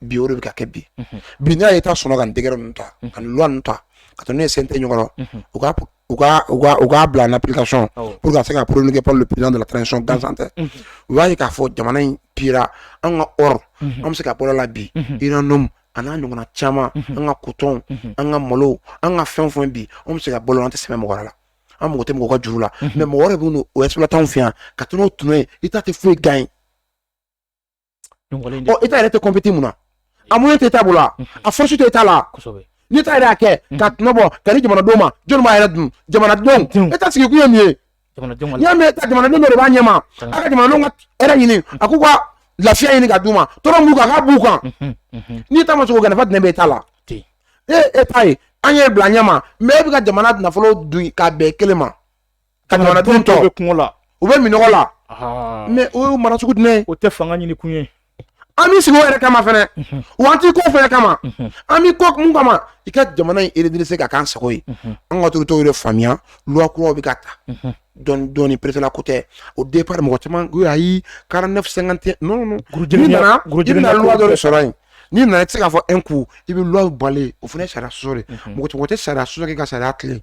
bi o de bɛ ka kɛ bi bi n'a ye taa sɔnna ka décret ninnu ta ka loi ninnu ta ka taa n'u ye CNT ɲɔgɔn u ka u ka u ka u k'a bila en application Awɔ. pour que ka se ka promulguer par le président de la transition gansan tɛ u b'a ye k'a fɔ jamana in pira an ka or an bɛ se ka balo a la bi uranium a n'a ɲɔgɔnna caman an ka coton an ka malo an ka fɛn o fɛn bi an bɛ se ka balo an tɛ sɛmɛ mɔgɔ wɛrɛ la an mago tɛ mɔgɔ ka juru la mais mɔgɔ wɛrɛ bɛ n'o exploiter an fɛ yan ka taa n'o tɔnɔ ye état tɛ foyi gagner état yɛrɛ tɛ compéter mun na a moyen tɛ état bolo a force tɛ état la ni état yɛrɛ y'a kɛ ka tɔnɔ bɔ ka di jamanadenw ma jɔn b'a yɛrɛ dun jamanadenw état sigi kun ye min ye n'i y'a mɛn état jamanadenw dɔ de b'a ɲɛma a ka jamanadenw ka hɛrɛ ɲini a k'u ka lafiya ɲini ka d'u ma tɔɔrɔ min b'u kan a k'a b'u kan ni état ma se k'o kɛ nafa jumɛn bɛ état la e état ye an y'e bila ɲɛma mais e bɛ ka jamana nafolo dun ka bɛn kelen ma ka jamanadenw tɔw bɛ kɔngɔ la u bɛ minɔgɔ la mais o ye mara sugu jumɛn o tɛ fanga ɲini kun ye an b'i sigi o yɛrɛ kama fɛnɛ wa an t'i kɔ o fɛnɛ kama an b'i kɔ mun kama i ka jamana in redresser ka k'an sago ye an ka autorités de faamuya loi kuraw bɛ ka ta dɔɔni dɔɔni pressé la ko tɛ au départ mɔgɔ caman ko ayi quarante-neuf cinquante et un non n'i nana i bɛna loi dɔ de sɔrɔ yen n'i nana i tɛ se k'a fɔ un coup i bɛ loi falen o fana ye sariya sɔsɔ de mɔgɔ tɛ sariya sɔsɔ k'i ka sariya tilen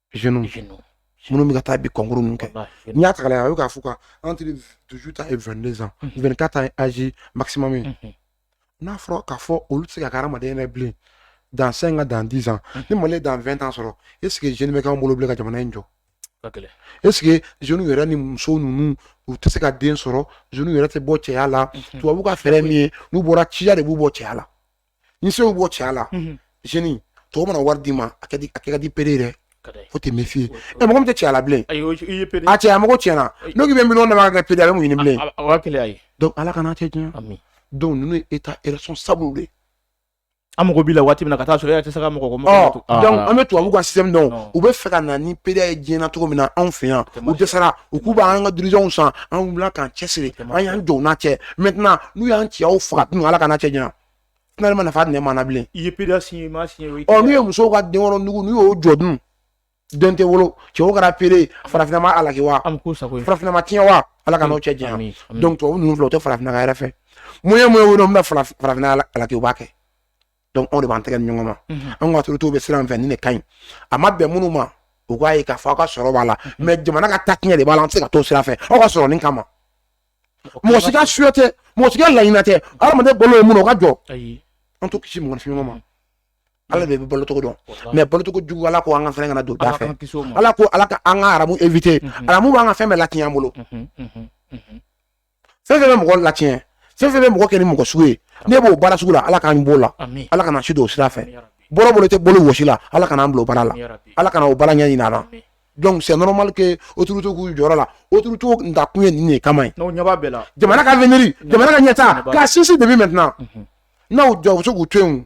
jeune jeune minnu bɛ ka taa bi concours ninnu kɛ n'i y'a ta k'a lajɛ a bɛ k'a fɔ ka entre dix-huit ans et vingt-deux ans mhm. vingt-quatre ans ye âge maximum ye mhm. n'a fɔra k'a fɔ olu tɛ se ka kɛ hadamaden yɛrɛ bilen dans cinq ans dans dix ans mhm. ni mali ye dans vingt ans sɔrɔ est ce que jeune bɛ k'an bolo bilen ka jamana in jɔ est ce que jeunes yɛrɛ ni muso ninnu u tɛ se ka den sɔrɔ jeunes yɛrɛ tɛ bɔ cɛya la tubabu ka fɛɛrɛ min ye n'u bɔra ciya de b'u bɔ cɛya la ni se y'u bɔ cɛya la jeune tɔw mana wari d'i ma a kɛ ka di pédé yɛrɛ dɛ faut te méfier ɛ mɔgɔ min tɛ cɛya la bilen a cɛya mɔgɔ tiɲɛna n'o bɛ miliyɔn d'a ma ka kɛ pédé a bɛ mun ɲini bilen ala kana cɛ diɲɛ donc ninnu ye état responsable de an mako b'i la waati min na ka taa sɔrɔ e tɛ se ka mɔgɔ donc an bɛ tubabu ka système dɔn u b'a fɛ ka na ni pédéya ye diɲɛ na cogo min na anw fɛ yan u dɛsɛra u k'u b'an ka dirigeants san an wulila k'an cɛsiri an y'an jɔ n'a cɛ maintenant n'u y'an cɛyaw faga dun ala kana cɛ diɲɛ finalement nafa jumɛn b'an na bilen i ye pédéya signé ma signé o n'u ye musow ka denwolo nugu n'u y'o jɔ dun den tɛ wolo cɛw kɛra pédé farafinna ma alaki wa farafinna ma tiɲɛ wa ala kan'o cɛ diɲɛ donc tubabu ninnu filɛ u tɛ farafinna ka hɛrɛ fɛ moyen o moyen bɛna farafinna alaki u b'a kɛ donc anw de b'an tɛgɛ di ɲɔgɔn ma an ka autorités bɛ sira min fɛ nin de ka ɲi a ma bɛn minnu ma u k'a ye k'a fɔ aw ka sɔrɔ b'a la mais jamana ka taa tiɲɛ de b'a la an tɛ se ka t'o sira fɛ aw ka sɔrɔ nin kama mɔgɔ si ka juguya tɛ mɔgɔ si ka laɲini tɛ adamaden balo ye mun o ka jɔ an t'o kisi mɔgɔninfin ɲɔgɔn ma ala de bɛ balocogo dɔn mais balocogo jugu ala ko an ka fɛn kana don da fɛ ala ko ala ko an ka haramu éviter haramu b'an ka fɛn bɛɛ latiɲɛ an bolo fɛn fɛn bɛ mɔgɔ latiɲɛ fɛn fɛn bɛ mɔgɔ kɛ ni mɔgɔ sugu ye ne b'o baara sugu la ala k'an b'o la ala kana si don o sira fɛ bɔra bolo tɛ bolo wɔsi la ala kana an bila o baara la ala kana o baara ɲɛ ɲin na donc c'est normal que autorité k'u jɔyɔrɔ la autorité ta kun ye nin de kama ye jamana ka avenir jamana ka ɲɛtaa k'a sinsin depuis maintenant mhm. n'aw jɔ u bɛ se k'u to yen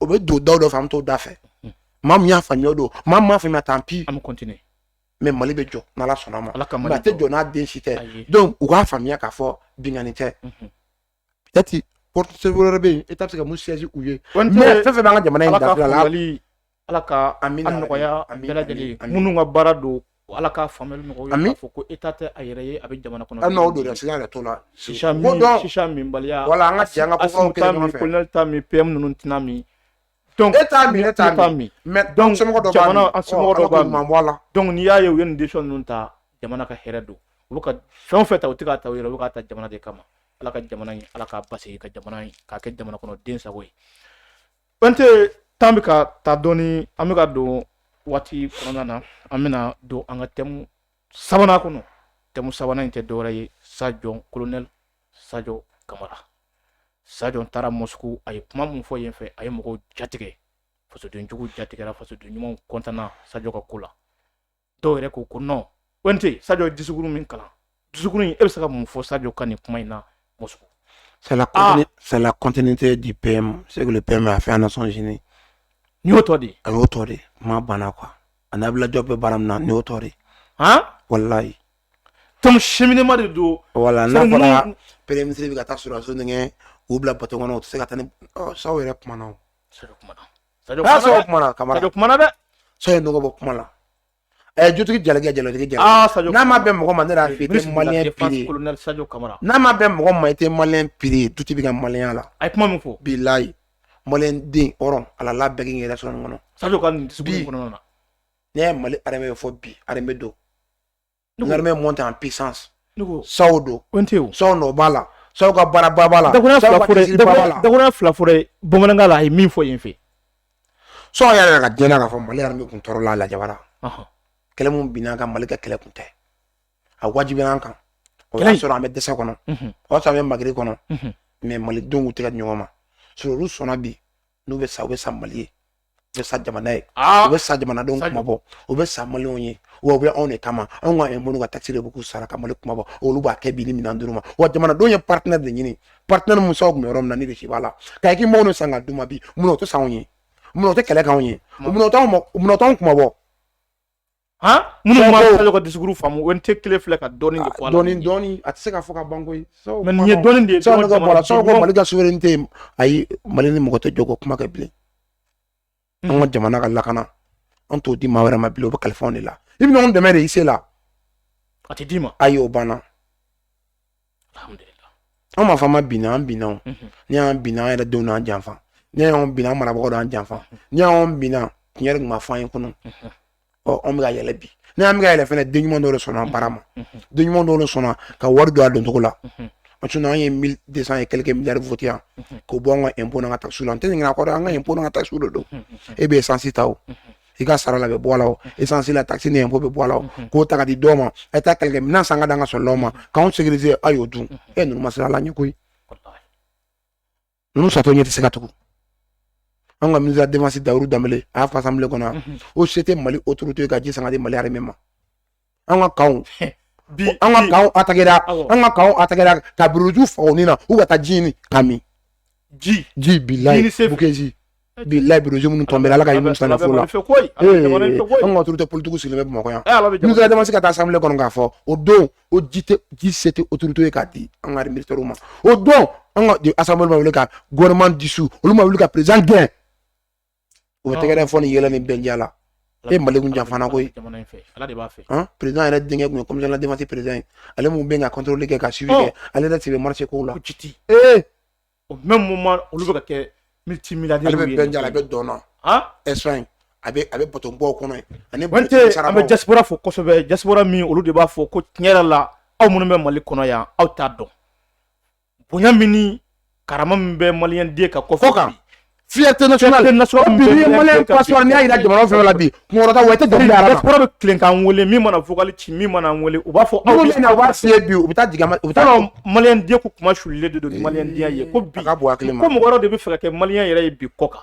o bɛ don daw dɔ fɛ an bɛ t'o da fɛ hmm. maa min y'a faamuya o don maa min m'a faamuya tant pis an bɛ continuer mais mali bɛ jɔ n'ala sɔnna a ma mais a tɛ jɔ n'a den si tɛ donc u k'a faamuya k'a fɔ binkanni tɛ peut-être mhm. porte sɛbɛn wɛrɛ bɛ yen État bɛ se ka min siège u ye mais fɛn o fɛn b'an ka jamana in dafila la ala ka a nɔgɔya bɛɛ lajɛlen minnu ka baara don Ala ka faamuyali nɔgɔya k'a fɔ ko État tɛ a yɛrɛ ye a bɛ jamana kɔnɔ minbaliya wala an ka minnu tɛna min e n'i y'a ye u ye nin décision ninnu ta jamana ka hɛrɛ don u bɛ ka fɛn o fɛn ta u tɛ k'a ta u yɛrɛ u bɛ k'a ta jamana de kama ala ka jamana in ala k'a basigi ka jamana in k'a kɛ jamana kɔnɔ den sago ye Bante temps bɛ ka taa dɔɔni an bɛ ka don waati kɔnɔna na an bɛna don an ka thème sabanan kɔnɔ thème sabanan in tɛ dɔwɛrɛ ye Sadio colonel Sadio Kamara Sadio taara Moscou a ye kuma min fɔ yen fɛ a ye mɔgɔw jatigɛ fasodenjugu jatigɛra fasoden ɲumanw kɔntanna Sadio ka ko la dɔw yɛrɛ ko ko nɔn kɔnte sajɔ dusukuru min kalan dusukuru in e bɛ se ka mun fɔ sajɔ ka nin kuma in na muso salakunten tɛ di pe se pe ma a fɛn nasɔn sini n y'o tɔ de a y'o tɔ de kuma banna qu a'jɔ bɛ baara min na n y'o tɔ de walayi to si ma de don wala n'a fɔra pere misisiriri bɛ ka taa sɔrɔso denkɛ u bila batokɔnɔ u tɛ se ka taa sa yɛrɛ kuma na N'a sɔrɔ kuma kama bɛ kuma dɛ sa nɔgɔ bɔ kuma la ɛ jotigi jalakɛ jalajɛ ja n'a ma bɛ mɔgɔ ma ne fi ma kamara n'a ma bɛ mɔgɔ ma i tɛ ma piri tu bɛ ka maya la a ye kuma min fɔ bi layi malen den hɔrɔn ala la bɛɛ yɛrɛ sɔrɔ kɔnɔ sa kɔnɔ ne ye mali fɔ bi don L'armée monte en puissance Sadio don ko tɛ Sadio nɔ b'a la Sadio ka baaraba b'a la dakuruɲɛ fila fɔra bamanankan la a ye min fɔ yen fɛ Sadio y'a yiraka diɲɛ na k'a fɔ mali armée tun tɔɔrɔla lajabara kɛlɛ min binna a kan mali ka kɛlɛ tun tɛ a wajibila an kan o y'a sɔrɔ an bɛ dɛsɛ kɔnɔ o y'a sɔrɔ an bɛ mari kɔnɔ mais malidenw tɛ ɲɔgɔn ma sɔrɔ olu sɔnna bi n'u bɛ sa u bɛ sa mali ye u bɛ sa jamana ye u bɛ sa jamanadenw kunmabɔ u bɛ sa malienw ye wa u bɛ anw de kama anw ka impôt n'u ka taxe de bɛ k'u sara ka mali kunmabɔ olu b'a kɛ bi ni minɛn dira u ma wa jamanadenw ye partenaire de ɲini partenaire min Sadio tun bɛ yɔrɔ min na nin de se b'a la ka équipement san ka d'u ma bi munna o tɛ sa anw ye munna o tɛ kɛlɛ k'anw ye munna o t'anw kunmabɔ minnu ma Sadio ka discours faamu o tɛ kelen filɛ ka dɔɔnin de fɔ a la dɔɔnin dɔɔnin a tɛ se ka fɔ ka ban koyi mais nin ye dɔɔnin de ye sabu ka bɔ a la Sadio ko mali ka souveraineté ayi mali ni mɔgɔ tɛ jɔ ko kuma kɛ bilen an ka jamana ka lakana an t'o di maa wɛrɛ ma bilen o bɛ kalifa anw de la i bɛ ɲɔgɔn dɛmɛ de i se la a tɛ d'i ma ayi o banna an m'a fɔ an ma bin an binna n'i y'an binna an yɛrɛ denw d'an janfa n'i y'an binna an marabagaw d'an janfa n'i y'an binna tiɲɛ tun ma fɔ an ye kɔnɔ ɔ anw bɛ ka yɛlɛ bi n'i y'an bɛ ka yɛlɛ fɛnɛ den ɲuman dɔw de sɔnna baara ma den ɲuman dɔw de sɔnna ka wari don a don cogo la sinon an ye mille deux cent et quelques milliards voté yan k'o bɔ an ka impôt n'an ka taxes la n tɛ ɲinɛ a kɔ dɛ an ka impôt n'an ka taxes de don e bɛ essence ta o i ka sara la bɛ bɔ a la o essence la taxe ni impôt bɛ bɔ a la o k'o ta ka di dɔw ma a ye taa kɛlɛkɛ minɛn san ka di an ka soldatw ma k'anw sécuriser a y'o dun e ninnu ma sira la ɲɛ koyi ninnu satɔ ɲɛ tɛ se ka tugu an ka ministre de la défense dahirou dembélé a y'a fɔ assemblée kɔnɔ o se tɛ mali autorité ka ji san ka di mali armée ma an ka camp bi an ka camp attaquera an ka camp attaquera ka buruju faga ni na u ka taa ji ɲini ka min ji ji bilayi boulkessi bilayi buruju minnu tombéra ala ka hinɛ musa nafolo la an ka autorité politiquew sigilen bɛ bamakɔ yan ministre de la défense ka taa assemblée kɔnɔ k'a fɔ o don o ji tɛ ji se tɛ autorité ye k'a di an ka militairew ma o don an ka assemblée ma wuli ka gouvernement dissous olu ma wuli ka président gɛn U bɛ tɛgɛrɛ fɔ ni yɛlɛ ni bɛnja la e mali kun janfana koyi président yɛrɛ denkɛ tun ye commission de la défense président ye ale min bɛ contrôle kɛ ka suivi kɛ ale yɛrɛ tun bɛ marché ko la jiti ee au même moment olu bɛ ka kɛ multimilliardaire ale bɛ bɛnja la a bɛ dɔn na espagne a bɛ a bɛ batoba kɔnɔ ani an bɛ diaspora fo kosɛbɛ diaspora min olu de b'a fɔ ko tiɲɛ yɛrɛ la aw minnu bɛ mali kɔnɔ yan aw t'a dɔn bonya min ni karama min bɛ maliyɛn den kan kɔfɛ kan fierté nationale fierté nationale bi ni maliyɛn passeport n'i y'a jira jamana fɛn la bi kunkɔrɔta wa i tɛ dɔnkili yɛrɛ diaspora bɛ tilen k'an wele min mana vocal ci min mana n wele u b'a fɔ aw bɛ na vérifier bi u bɛ taa jigin u bɛ taa maliyɛn den ko kuma sulilen de don ni maliyɛn den ye ko bi ko mɔgɔ wɛrɛ de bɛ fɛ ka kɛ maliyɛn yɛrɛ ye bi kɔ kan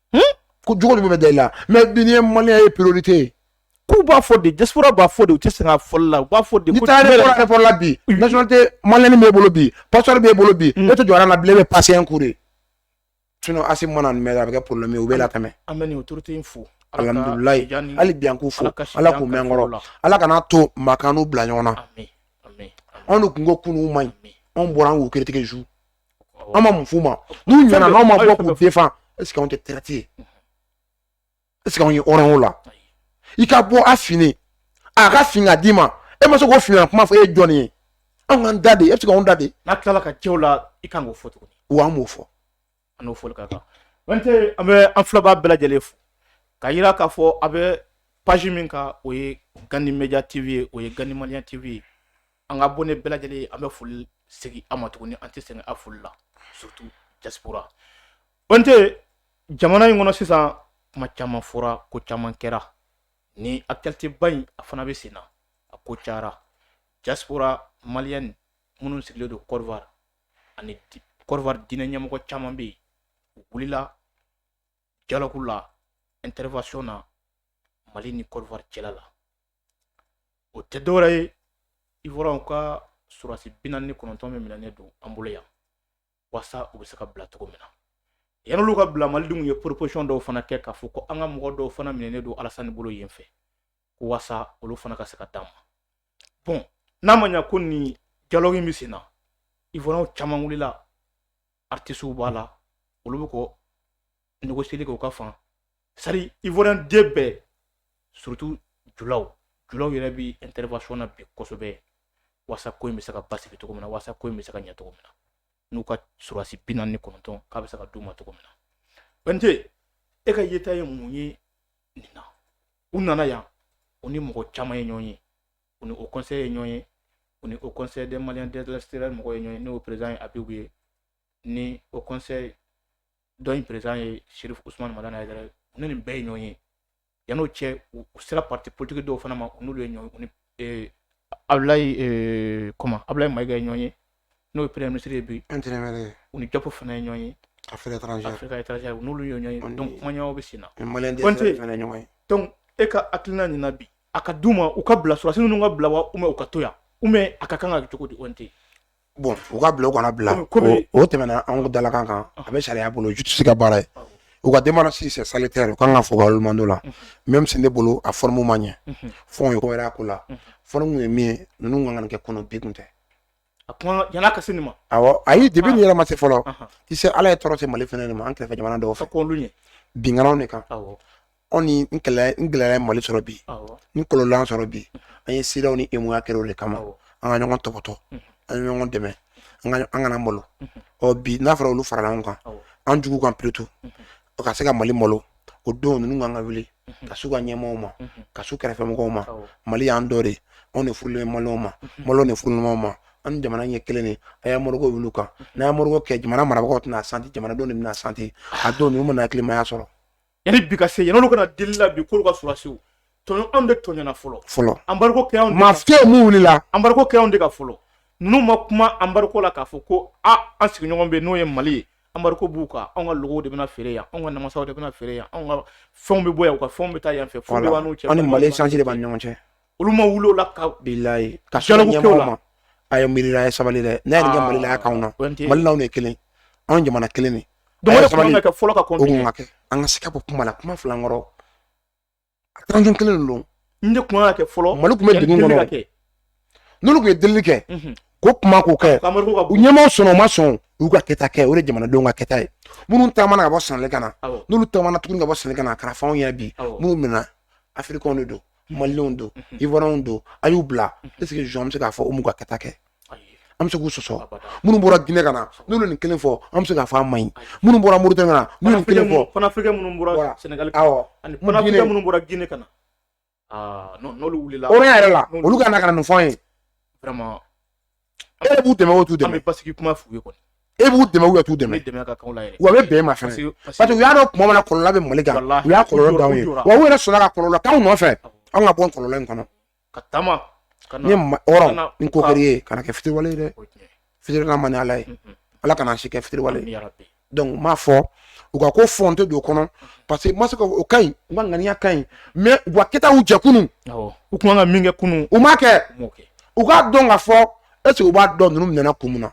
ko jugu de bɛ da i la mais bi n'i ye malien ye priorité ye k'u b'a fɔ de diaspora b'a fɔ de u tɛ sɛgɛn a fɔli la u b'a fɔ de. n'i taara aéroport aéroport la bi nationalité malienne b'e bolo bi passeport b'e bolo bi e tɛ jɔ rang na bilen e bɛ passer un coup de sinon Assimi mana nin mɛn a bɛ kɛ problème ye u b'i latɛmɛ. an bɛ nin autorité in fo. alhamdulilayi hali bi an k'u fo ala k'u mɛɛn an kɔrɔ ala kana to maa k'an n'u bila ɲɔgɔn na anw de tun ko kunun man ɲi anw bɔra an k'u critiquer su. an ma mun f'u ma n'u ɲɛna n'anw ma bɔ k'u défendre est-ce que anw tɛ traître ye est-ce que anw ye hɔrɔn o la i ka bɔ a fini a ka fin ka d'i ma e ma se k'o fini kuma fɔ e ye jɔnni ye anw k'an da de e bɛ se k'anw da de. n'a tilala ka cɛw la i kan k'o fɔ tuguni. wa an b'o fɔ. an n'o fɔli ka kan. wante an bɛ an filɛbaa bɛɛ lajɛlen fo ka yira k'a fɔ a bɛ page min kan o ye gandhi média tv ye o ye gandhi malien tv ye. an ka abonné bɛɛ lajɛlen an bɛ foli segin a ma tuguni an tɛ sɛgɛn a foli la surtout diaspora an tɛ jamana in kɔnɔ sisan kuma caman fɔra ko caman kɛra ni actualité ba in a fana bɛ sen na a ko cayara diaspora malien minnu sigilen don côte d'ivoire ani côte d'ivoire diinɛ ɲɛmɔgɔ caman bɛ yen u wulila dialogue la intervention na mali ni côte d'ivoire cɛla la o tɛ dɔwɛrɛ ye ivoirienw ka surasi bi naani ni kɔnɔntɔn min minɛnen don an bolo yan walasa u bɛ se ka bila cogo min na yan'olu ka bila malidenw ye proposition dɔw fana kɛ k'a fɔ ko an ka mɔgɔ dɔw fana minɛnen don alasani bolo yen fɛ ko walasa olu fana ka se ka d'an ma bon n'a ma ɲa ko nin dialogue in bɛ sen na ivoirienw caman wulila artisiw b'a la olu bɛ ko négocier kɛ u ka fan sari ivoirien den bɛɛ surtout julaw julaw yɛrɛ bi intervention na bi kosɛbɛ wasa ko in bɛ se ka basigi cogo min na wasa ko in bɛ se ka ɲɛ cogo min na n'u ka surasi bi naani ni kɔnɔntɔn k'a bɛ se ka d'u ma cogo min na bɛnte e ka yeta ye mun ye nin na u nana yan u ni mɔgɔ caman ye ɲɔgɔn ye u ni haut conseil ye ɲɔgɔn ye u ni haut conseil des maliens de l'extérieur mɔgɔ ye ɲɔgɔn ye n'o président ye abibu ye ni haut conseil dɔ in président ye chérif ousmane madani haidara u ni nin bɛɛ ye ɲɔgɔn ye yan n'o cɛ u sera parti politique dɔw fana ma n'olu ye ɲɔgɔn u ni ablaye maïga ye ɲɔgɔn ye n'o ye premier ministre ye bi u ni diop fana ye ɲɔgɔn ye affaires étrangères n'olu ye ɲɔgɔn ye donc kumaɲɔgɔnya bɛ sen na donc e ka hakilina nin na bi a ka d'u ma u ka bila surasi ninnu ka bila wa u ka to yan ou bien a ka kan ka cogo di tɛ bon u ka bila u kana bila o tɛmɛna an dalakan kan a bɛ sariya bolo justice ka baara ye u ka démarche c'est salutaire u kan ka fɔ mando la même si ne bolo a forme ma ɲɛ fo ye wɛrɛ ko la forme ye min ye ninnu kan ka kɛ kɔnɔ bi kun tɛ ka se nin ma ayi depuis nin yɛrɛ ma se fɔlɔ i se ala ye tɔɔrɔ se mali fana ma an kɛrɛfɛ jamana dɔw fɛ binkanniw de kan anw ni n kɛlɛ n gɛlɛya ye mali sɔrɔ bi awɔ ni kɔlɔlɔ sɔrɔ bi an ye cedeao ni uemoa kɛra o de kama awɔ an ka ɲɔgɔn tɔpɔtɔ an ye ɲɔgɔn dɛmɛ an ka- an kana malo ɔ bi n'a fɔra olu farala ɲɔgɔn kan Awɔ. an jugu kan plutôt o ka se ka mali malo o don ninnu kan ka wuli ka s'u ka ɲɛmɔgɔw ma ka s'u kɛrɛfɛmɔgɔw ma awɔ mali y'an dɔ de ye. anw de furulen bɛ maliyɛnw ma maliyɛnw de furulen ɲɔgɔn ma an ni jamana ɲɛ kelen de a ye anbariko wuli an kan n'a ye anbariko kɛ jamana marabagaw tɛna a santi jamanadenw de bɛna a santi a don ninnu mana hakilimaya sɔrɔ yanni bi ka se yanni olu kana deli la bi k'olu ka surasiw tɔɲɔ anw de tɔɲɔna fɔlɔ fɔlɔ anbariko kɛ anw de ka- mafiyaw mun wulila anbariko kɛ anw de kan fɔlɔ ninnu ma kuma anbariko la k'a fɔ ko a an sigiɲɔgɔn bɛ yen n'o ye mali ye anbariko b'u kan anw ka logow de bɛna feere yan anw ka namasaw de bɛna feere yan anw ka fɛnw bɛ bɔ yan u ka fɛnw bɛ taa yan fɛ fo bɛɛ b'an n'u cɛ anw ni mali échange de b'an ni ɲɔgɔn cɛ olu ma wuli o la ka bilayi ka se ɲɛmɔgɔw ma a ye miirila a ye sabali dɛ n'a ye nin kɛ ah, mali la a k'anw na mali n'anw de kelen anw jamana kelen de donc o de kun ka kɛ fɔlɔ ka continuer ka kɛ an ka se ka bɔ kuma la kuma fila kɔrɔ attention kelen de don n de kun ka kɛ fɔlɔ mali tun bɛ degun kɔnɔ n'olu tun ye delili kɛ mhm. ko kuma k'o kɛ u ɲɛmaaw sɔnna u ma sɔn u y'u ka kɛta kɛ o de jamanadenw ka kɛta ye minnu taamana ka bɔ sɛnɛgali ka na n'olu taamana tuguni ka bɔ sɛnɛgali ka na a kɛra f'anw ɲɛna bi minnu minɛna afirikɛnw de don maliyɛnw don ivoiriyɛnw don a y'u bila est-ce que an bɛ se k'a fɔ u m'u ka kɛta kɛ an bɛ se k'u sɔsɔ minnu bɔra ginɛ ka na n'olu nin kelen fɔ an bɛ se k'a fɔ a man ɲi minnu bɔra moritani ka na n'u nin kelen fɔ panafricain minnu bɔra sɛnɛgali ani panafricain minnu bɔra ginɛ ka na n'olu wulila o yɛrɛ la olu ka na ka na nin fɔ an ye e b'u dɛmɛ o t'u dɛmɛ an bɛ basigi kuma f'u ye kɔni e b'u dɛmɛ ou e t'u dɛmɛ dɛmɛ ka kanw la yɛrɛ wa a bɛ bɛn ma fɛnɛ parce que u y'a dɔn kuma min na kɔlɔlɔ bɛ mali kan u y'a kɔlɔlɔ d'anw ye wa u yɛrɛ sɔnna ka kɔlɔlɔ k'anw nɔfɛ anw ka bɔ kɔlɔlɔ in kɔnɔ ka taama ni hɔrɔn ni ko kɛr'i ye kana kɛ fitiriwale ye dɛ fitiriwale man di ala ye ala kana si kɛ fitiriwale ye donc n m'a fɔ u ka ko fɔ n tɛ don o kɔnɔ parce que n ma se o ka ɲi u ka ŋaniya ka ɲi mais u ka kɛtaw jɛ kunun u tun ka min kɛ kunun u m'a kɛ u k'a dɔn ka fɔ est-ce que u b'a dɔn ninnu minɛna kun min na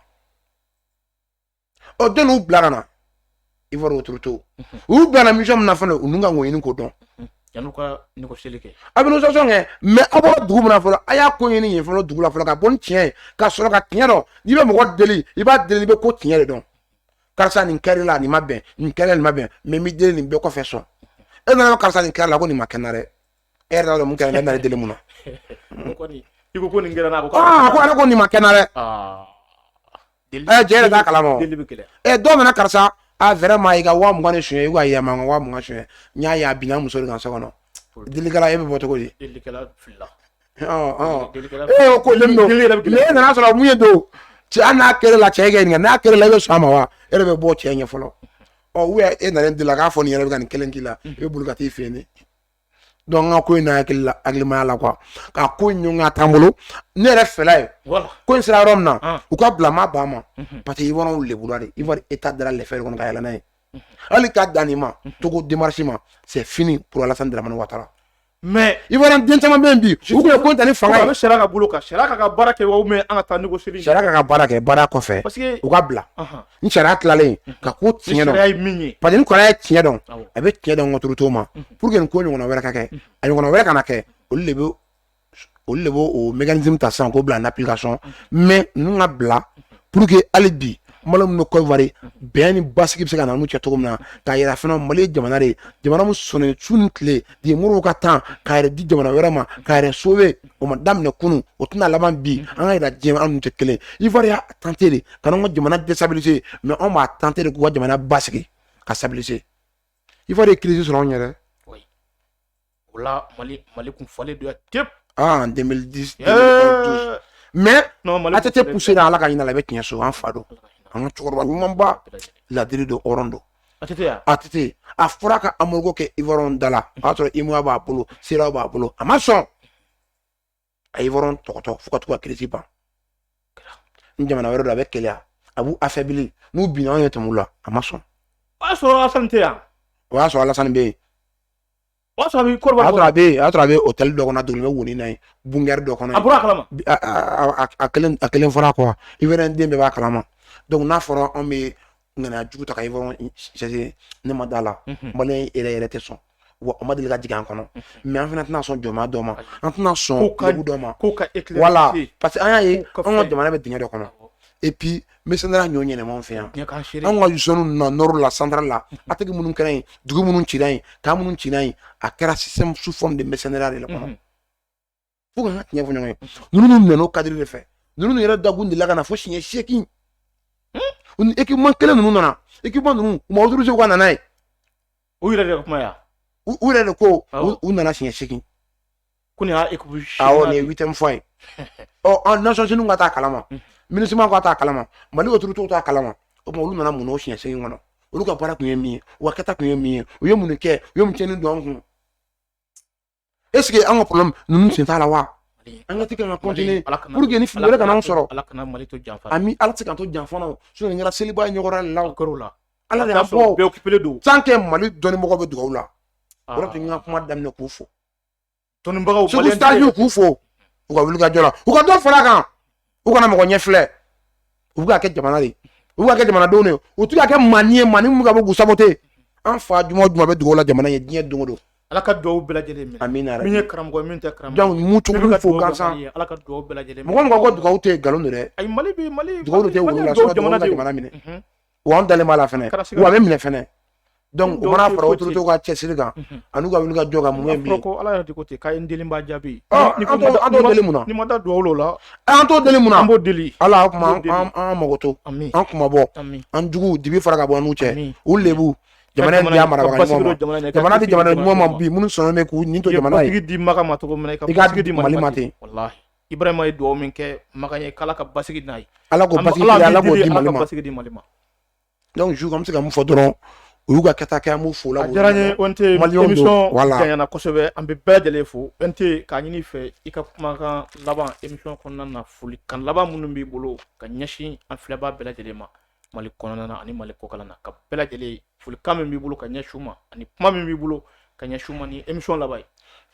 ɔ den u bila ka na ivoire autorité u bilana mission min na fana u ka ɲini k'o dɔn a bɛ négociation kɛ mais aw bɔra dugu min fɔlɔ a y'a ko ɲini yen fɔlɔ dugu la fɔlɔ ka bɔ ni tiɲɛ ye ka sɔrɔ ka tiɲɛ dɔn n'i bɛ mɔgɔ deli i b'a deli i bɛ ko tiɲɛ de dɔn karisa nin kɛr'i la nin ma bɛn nin kɛra nin ma bɛn mais n b'i deli nin bɛɛ kɔfɛ sɔn e nana karisa nin kɛr'i la ko nin ma kɛ n na dɛ e yɛrɛ t'a dɔn mun kɛra ne nana deli mun na i ko ko nin kɛra ko aa ko ale ko nin ma kɛ n na dɛ ɛ jɛ yɛrɛ t'a kalama ɛ dɔw nana karisa vraiment i ka wa mugan ni suɲɛ i ka yɛlɛma n ka wa mugan suɲɛ n y'a ye a binna muso de kan so kɔnɔ delikɛla e bɛ bɔ cogo di e ko le e nana sɔrɔ mun ye don cɛ hali n'a kɛra la cɛ kɛ nin n'a kɛra la e bɛ sɔn a ma wa e bɛ bɔ cɛ ɲɛ fɔlɔ ɔ u e nana deli la k'a fɔ nin yɛrɛ bɛ ka nin kelen k'i la i bɛ boli ka t'i fɛ yen donc n ka ko in na hakili la hakilimaya la quoi ka ko in ɲɔgɔn ka t'an bolo ne yɛrɛ fɛla ye ko in sera yɔrɔ min na u ka bila ma ban ma parce que ivoiriyɛnw lebura de ivoire état dara lɛfɛ de kɔnɔ ka yɛlɛ n'a ye hali k'a dan nin ma togo démarche ma c'est fini pour alassane dramane ouattara mais ivoire den caman bɛ yen bi u tun ye ko ta ni fanga ye sariya ka bolo kan sariya ka ka baara kɛ ou bien an ka taa négocier sariya ka ka baara kɛ baara kɔfɛ parce que u ka bila ni sariya tilalen ka ko tiɲɛ dɔn ye min ye parce que ni kɔrɔ ye tiɲɛ dɔn a bɛ tiɲɛ dɔn autorité ma pour que nin ko ɲɔgɔnna wɛrɛ ka kɛ a ɲɔgɔnna wɛrɛ kana kɛ olu de bɛ olu de b'o o mécanisme ta sisan k'o bila en application mais ninnu ka bila pour que hali bi Mali min bɛ Côte d'Ivoire bɛn ni basigi bɛ se ka na n'u cɛ cogo min na k'a yira fana Mali ye jamana de ye jamana min sɔnnen su ni tile de Modibo ka temps k'a yɛrɛ di jamana wɛrɛ ma k'a yɛrɛ sauver o ma daminɛ kunun o tɛna laban bi an ka yira diɲɛ an n'u tɛ kelen Ivoire y'a tenter de ka n'an ka jamana déstabiliser mais anw b'a tenter de k'u ka jamana basigi ka stabiliser Ivoire ye crise sɔrɔ anw yɛrɛ O la Mali Mali kun fɔlen don yan tep. Ah en 2010 Ɛɛ 2012 mais non Mali a tɛ kun tɛ fɔlen pousser don la Ala ka hin'a la i bɛ tiɲɛ so an fa don yan. an ka cɛkɔrɔba ɲumanba Bɛɛ lajɛlen. ladiri don hɔrɔn don A tɛ to yan. ATT a fɔra ka embargo kɛ Ivoiriens da la o y'a sɔrɔ UEMOA b'a bolo CEDEAO b'a bolo a ma sɔn a ye Ivoiriens tɔgɔtɔ fo ka to ka crise ban ni jamana wɛrɛ don a bɛ keleya a b'u affaiblir n'u binna anw ye tɛmɛ u la a ma sɔn o y'a sɔrɔ alasani tɛ yan o y'a sɔrɔ alasani bɛ yen o y'a sɔrɔ a bɛ Côte d'Ivoire a sɔrɔ a bɛ yen a sɔrɔ a bɛ hôtel dɔ kɔnɔ a donnen bɛ woni na yen bunker dɔ kɔnɔ a bɔra a kalama a kelen a kelen fɔra ko Ivoire den bɛɛ b'a kalama donc n'a fɔra anw bɛ ŋaniya jugu ta ka Ivoiriens sɛgɛrɛ ne ma da la Malien yɛrɛ yɛrɛ tɛ sɔn wa a ma deli ka jigin an kɔnɔ mais an fana tɛna sɔn jɔnmaya dɔ ma an tɛna sɔn lebu dɔ ma voilà parce que an y'a ye an ka jamana bɛ dingɛ dɔ kɔnɔ et puis mercenaires ɲɔ ɲɛnɛma fɛ yan an ka zone na nord la centre la attaque minnu kɛra yen dugu minnu cira yen camp minnu cira yen a kɛra système sous forme de mercenaires de la kɔnɔ fo an ka tiɲɛ fɔ ɲɔgɔn ye ninnu nana o cadre de fɛ ninnu yɛrɛ da k'u delila ka na fo siɲɛ seegin u ni équipement kelen ninnu nana équipement ninnu u ma autoriser ka na n'a ye u yɛrɛ de ka kuma yan u yɛrɛ de ko u nana siɲɛ seegin ko nin y'a équipe awɔ nin ye huitième fois ye ɔ an nations unies k'a t'a kalama MINUSMA k'a t'a kalama mali autorités t'a kalama o tuma olu nana mun na o siɲɛ seegin kɔnɔ olu ka baara tun ye min ye u ka kɛta tun ye min ye u ye mun de kɛ u ye mun tiɲɛni don an kun est-ce que an ka problème ninnu sen t'a la wa enquête ka continuer pour que ni fili wɛrɛ kana an sɔrɔ ala kana mali to janfa ami ala tɛ k'an to janfa na sinon nin kɛra seliba ye ɲɔgɔn la o kɛr'o la ala de y'a fɔ bɛɛ occupé don tant que mali dɔnnibagaw bɛ dugawu la ah. o de tun ka kuma daminɛ k'u fo dɔnnibagaw segu stage k'u fo u ka wulikajɔ la u ka dɔ fara a kan u kana mɔgɔ ɲɛ filɛ u bɛ k'a kɛ jamana de u bɛ k'a kɛ jamanadenw de u tɛ k'a kɛ maa ni ye maa ni min bɛ ka bɔ k'u saboter an fa juma o juma bɛ dugawu la jamana ye diɲɛ don o don ala ka dugawu bɛɛ lajɛlen minɛ amina yarabi min ye karamɔgɔ ye min tɛ karamɔgɔ donc mun cogo bɛ fo gansan ye ala ka dugawu bɛɛ lajɛlen minɛ mɔgɔ o mɔgɔ ko dugawu tɛ nkalon don dɛ ayi mali bɛ mali dugawu tɛ wolo la sɔrɔ jamana minɛ wa an dalen b'a la fɛnɛ wa a bɛ minɛ fɛnɛ donc o mana fara autorité ka cɛsiri kan an'u ka wuli ka jɔ ka mun ye bi ko ala yɛrɛ de ko ten k'a ye n deli n b'a jaabi an t'o deli mun na n'i ma da duwawu la an t'o deli mun na an b'o deli ala an kuma an mago to an kunmabɔ an juguw dibi fara ka bɔ an n'u cɛ u lebu jamana in di a marabaga ɲuman ma jamana di jamana ɲuman ma bi minnu sɔnna bɛ k'u nin to jamana ye di makan ma cogo min na i k'a di mali ma ten Ibrahima ye dugawu min kɛ Makan ye k'Ala ka basigi n'a ye. Ala k'o basigi kɛ Ala k'o di Mali ma. Ala ka basigi di Mali ma. Donc Jules an bɛ se ka mun fɔ dɔrɔn u y'u ka kɛta kɛ an b'u fo la. A diyara n ye ONT émission janyana kosɛbɛ an bɛ bɛɛ lajɛlen fo ONT k'a ɲini i fɛ i ka kumakan laban émission kɔnɔna na folikan laban minnu b'i bolo ka ɲɛsin an filɛbaa bɛɛ lajɛlen ma Mali kɔnɔna na ani Mali kɔkan na ka bɛɛ lajɛlen folikan min b'i bolo ka ɲɛsin u ma ani kuma min b'i bolo ka ɲɛsin u ma ni émission laban ye.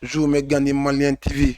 Jules n bɛ Gandhi Malien TV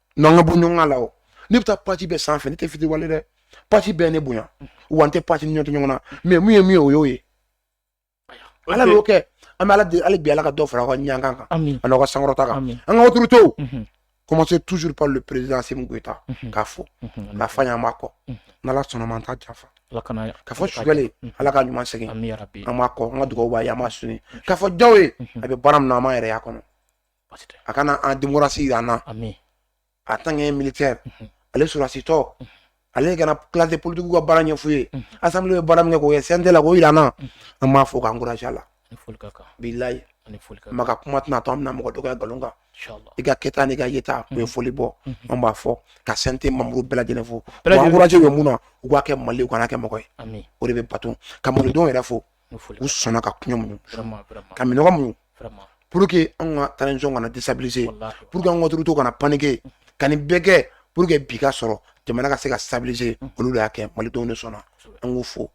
n'an ka bɔ ɲɔgɔn la o ne bɛ taa page bɛɛ sanfɛ ne tɛ fitiriwale dɛ page bɛɛ ne bonya wa n tɛ page ni ɲɔgɔn tɛ ɲɔgɔn na mais mun ye min ye o y'o ye ala b'o kɛ an bɛ ala deli bi ala ka dɔ fara aw ka ɲankan kan ani aw ka sankɔrɔta kan an ka autorités commencer toujours par le président Assimi Goïta k'a fo k'a f'a ye an b'a kɔ n'ala sɔnna ma an t'a janfa k'a fɔ Choguel ala k'a ɲuman segin an b'a kɔ an ka dugawu b'a ye an b'a soutenir k'a fɔ Diaw ye a bɛ baara min na an b'a yɛrɛ y'a kɔnɔ a ka na démocratie jira an na en tant que militaire ale sɔrɔsitɔ ale ka na classe politique ka baara ɲɛf'u ye assemblée bɛ baara min kɛ k'o kɛ CNT la k'o jira an na an b'a fo k'a encourager a la bilayi maa ka kuma tɛna to an bɛna mɔgɔ dɔgɔya nkalon kan i ka kɛta n'i ka yeta u ye foli bɔ an b'a fo ka CNT membre bɛɛ lajɛlen fo encourager u ye mun na u k'a kɛ mali u kana kɛ mɔgɔ ye o de bɛ bato ka malidenw yɛrɛ fo u sɔnna ka kɔngɔ muɲu ka minnɔgɔ muɲu pour que an ka transition kana déstabiliser pour que an ka autorités kana paniquer ka nin bɛɛ kɛ pour que bi ka sɔrɔ jamana ka se ka stabiliser olu y'a kɛ malidenw de sɔnna an k'u fo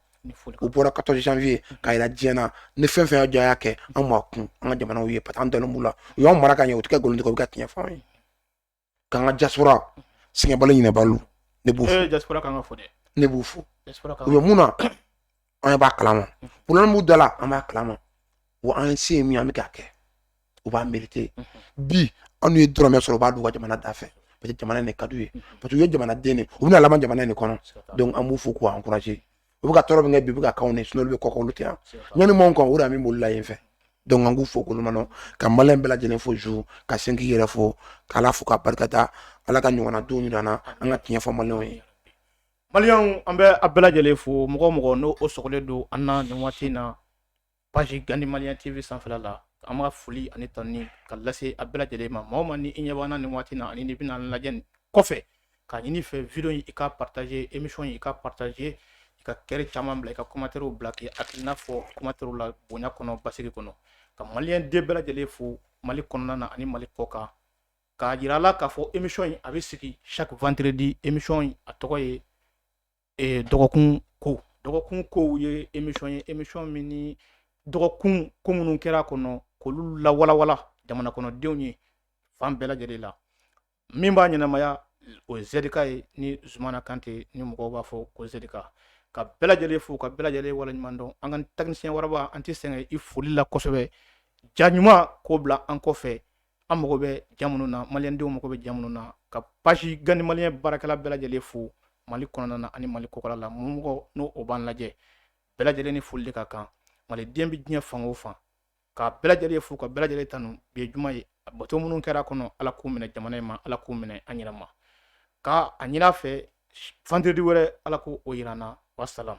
u bɔra quatorze janvier k'a jira diɲɛ na ni fɛn fɛn y'a kɛ an ma kun an ka jamanaw ye parce que an dalen b'u la u y'an mara ka ɲɛ u tɛ ka nkalon tigɛ u bɛ ka tiɲɛ fɔ an ye k'an ka diaspora sɛgɛnbali ɲinɛbali ne b'u fo ne b'u fo u bɛ mun na an b'a kalama problème b'u da la an b'a kalama wa an se ye min an bɛ k'a kɛ u b'a mérité bi an n'u ye dɔrɔmɛ sɔrɔ u b'a d'u ka jamana da fɛ parce que jamana in de ka d'u ye parce que u ye jamanaden de u bɛna laban jamana in de kɔnɔ donc an b'u fo k'u encourager u bɛ ka tɔɔrɔ min kɛ bi u bɛ k'a k'anw ne sinon olu bɛ kɔkan olu tɛ yan ɲani m'anw kan o de min bolila yen fɛ donc an k'u fo k'olu manɔ ka maliyɛn bɛɛ lajɛlen fo Jules ka sin k'i yɛrɛ fo k'ala fo ka barikada ala ka ɲɔgɔnna don jira an na an ka tiɲɛ fɔ maliyɛnw ye maliyɛnw an bɛ a bɛɛ lajɛlen fo mɔgɔ o mɔgɔ n'o sɔgɔlen don an na nin waati in na page Gandhi Malien TV sanfɛ la an b'a foli ani tanuni ka lase a bɛɛ lajɛlen ma maa o maa ni i ɲɛ b'an na nin waati in na ani ni bɛna lajɛ kɔfɛ k'a ɲini i fɛ vidéo in i ka partager émission in i ka partager i ka cœur caman bila i ka commentaire bila k'i hakilina fɔ commentaire la bonya kɔnɔ basigi kɔnɔ ka maliden bɛɛ lajɛlen fo mali kɔnɔna na ani mali kɔkan k'a jira la k'a fɔ émission in a bɛ sigi chaque vendredi émission in a tɔgɔ ye dɔgɔkun kow dɔgɔkun kow ye émission ye émission min ni dɔgɔkun ko minnu kɛra kɔnɔ k'olu lawalawala jamana kɔnɔdenw ye fan bɛɛ lajɛlen la min b'a ɲɛnamaya o ye zedika ye ni zumana kante ni mɔgɔ b'a fɔ ko zedika ka bɛɛ lajɛlen fo ka bɛɛ lajɛlen waleɲuman dɔn an ka technicien waraba an tɛ sɛgɛn i foli la kosɛbɛ ja ɲuman k'o bila an kɔfɛ an mago bɛ ja minnu na maliyɛndenw mago bɛ ja minnu na ka page Gandhi Malien baarakɛla bɛɛ lajɛlen fo mali kɔnɔna na ani mali kɔkɔla la mɔgɔ o mɔgɔ n'o b'an lajɛ bɛɛ lajɛlen ni foli de ka kan maliden bɛ diɲɛ fan o fan ka bɛɛ lajɛlen fo ka bɛɛ lajɛlen tanu bi ye juma ye bato minnu kɛra kɔnɔ ala k'u minɛ jamana in ma ala k'u minɛ an yɛrɛ ma k'a ɲini a fɛ vendredi wɛrɛ ala k'o jira an na wasalam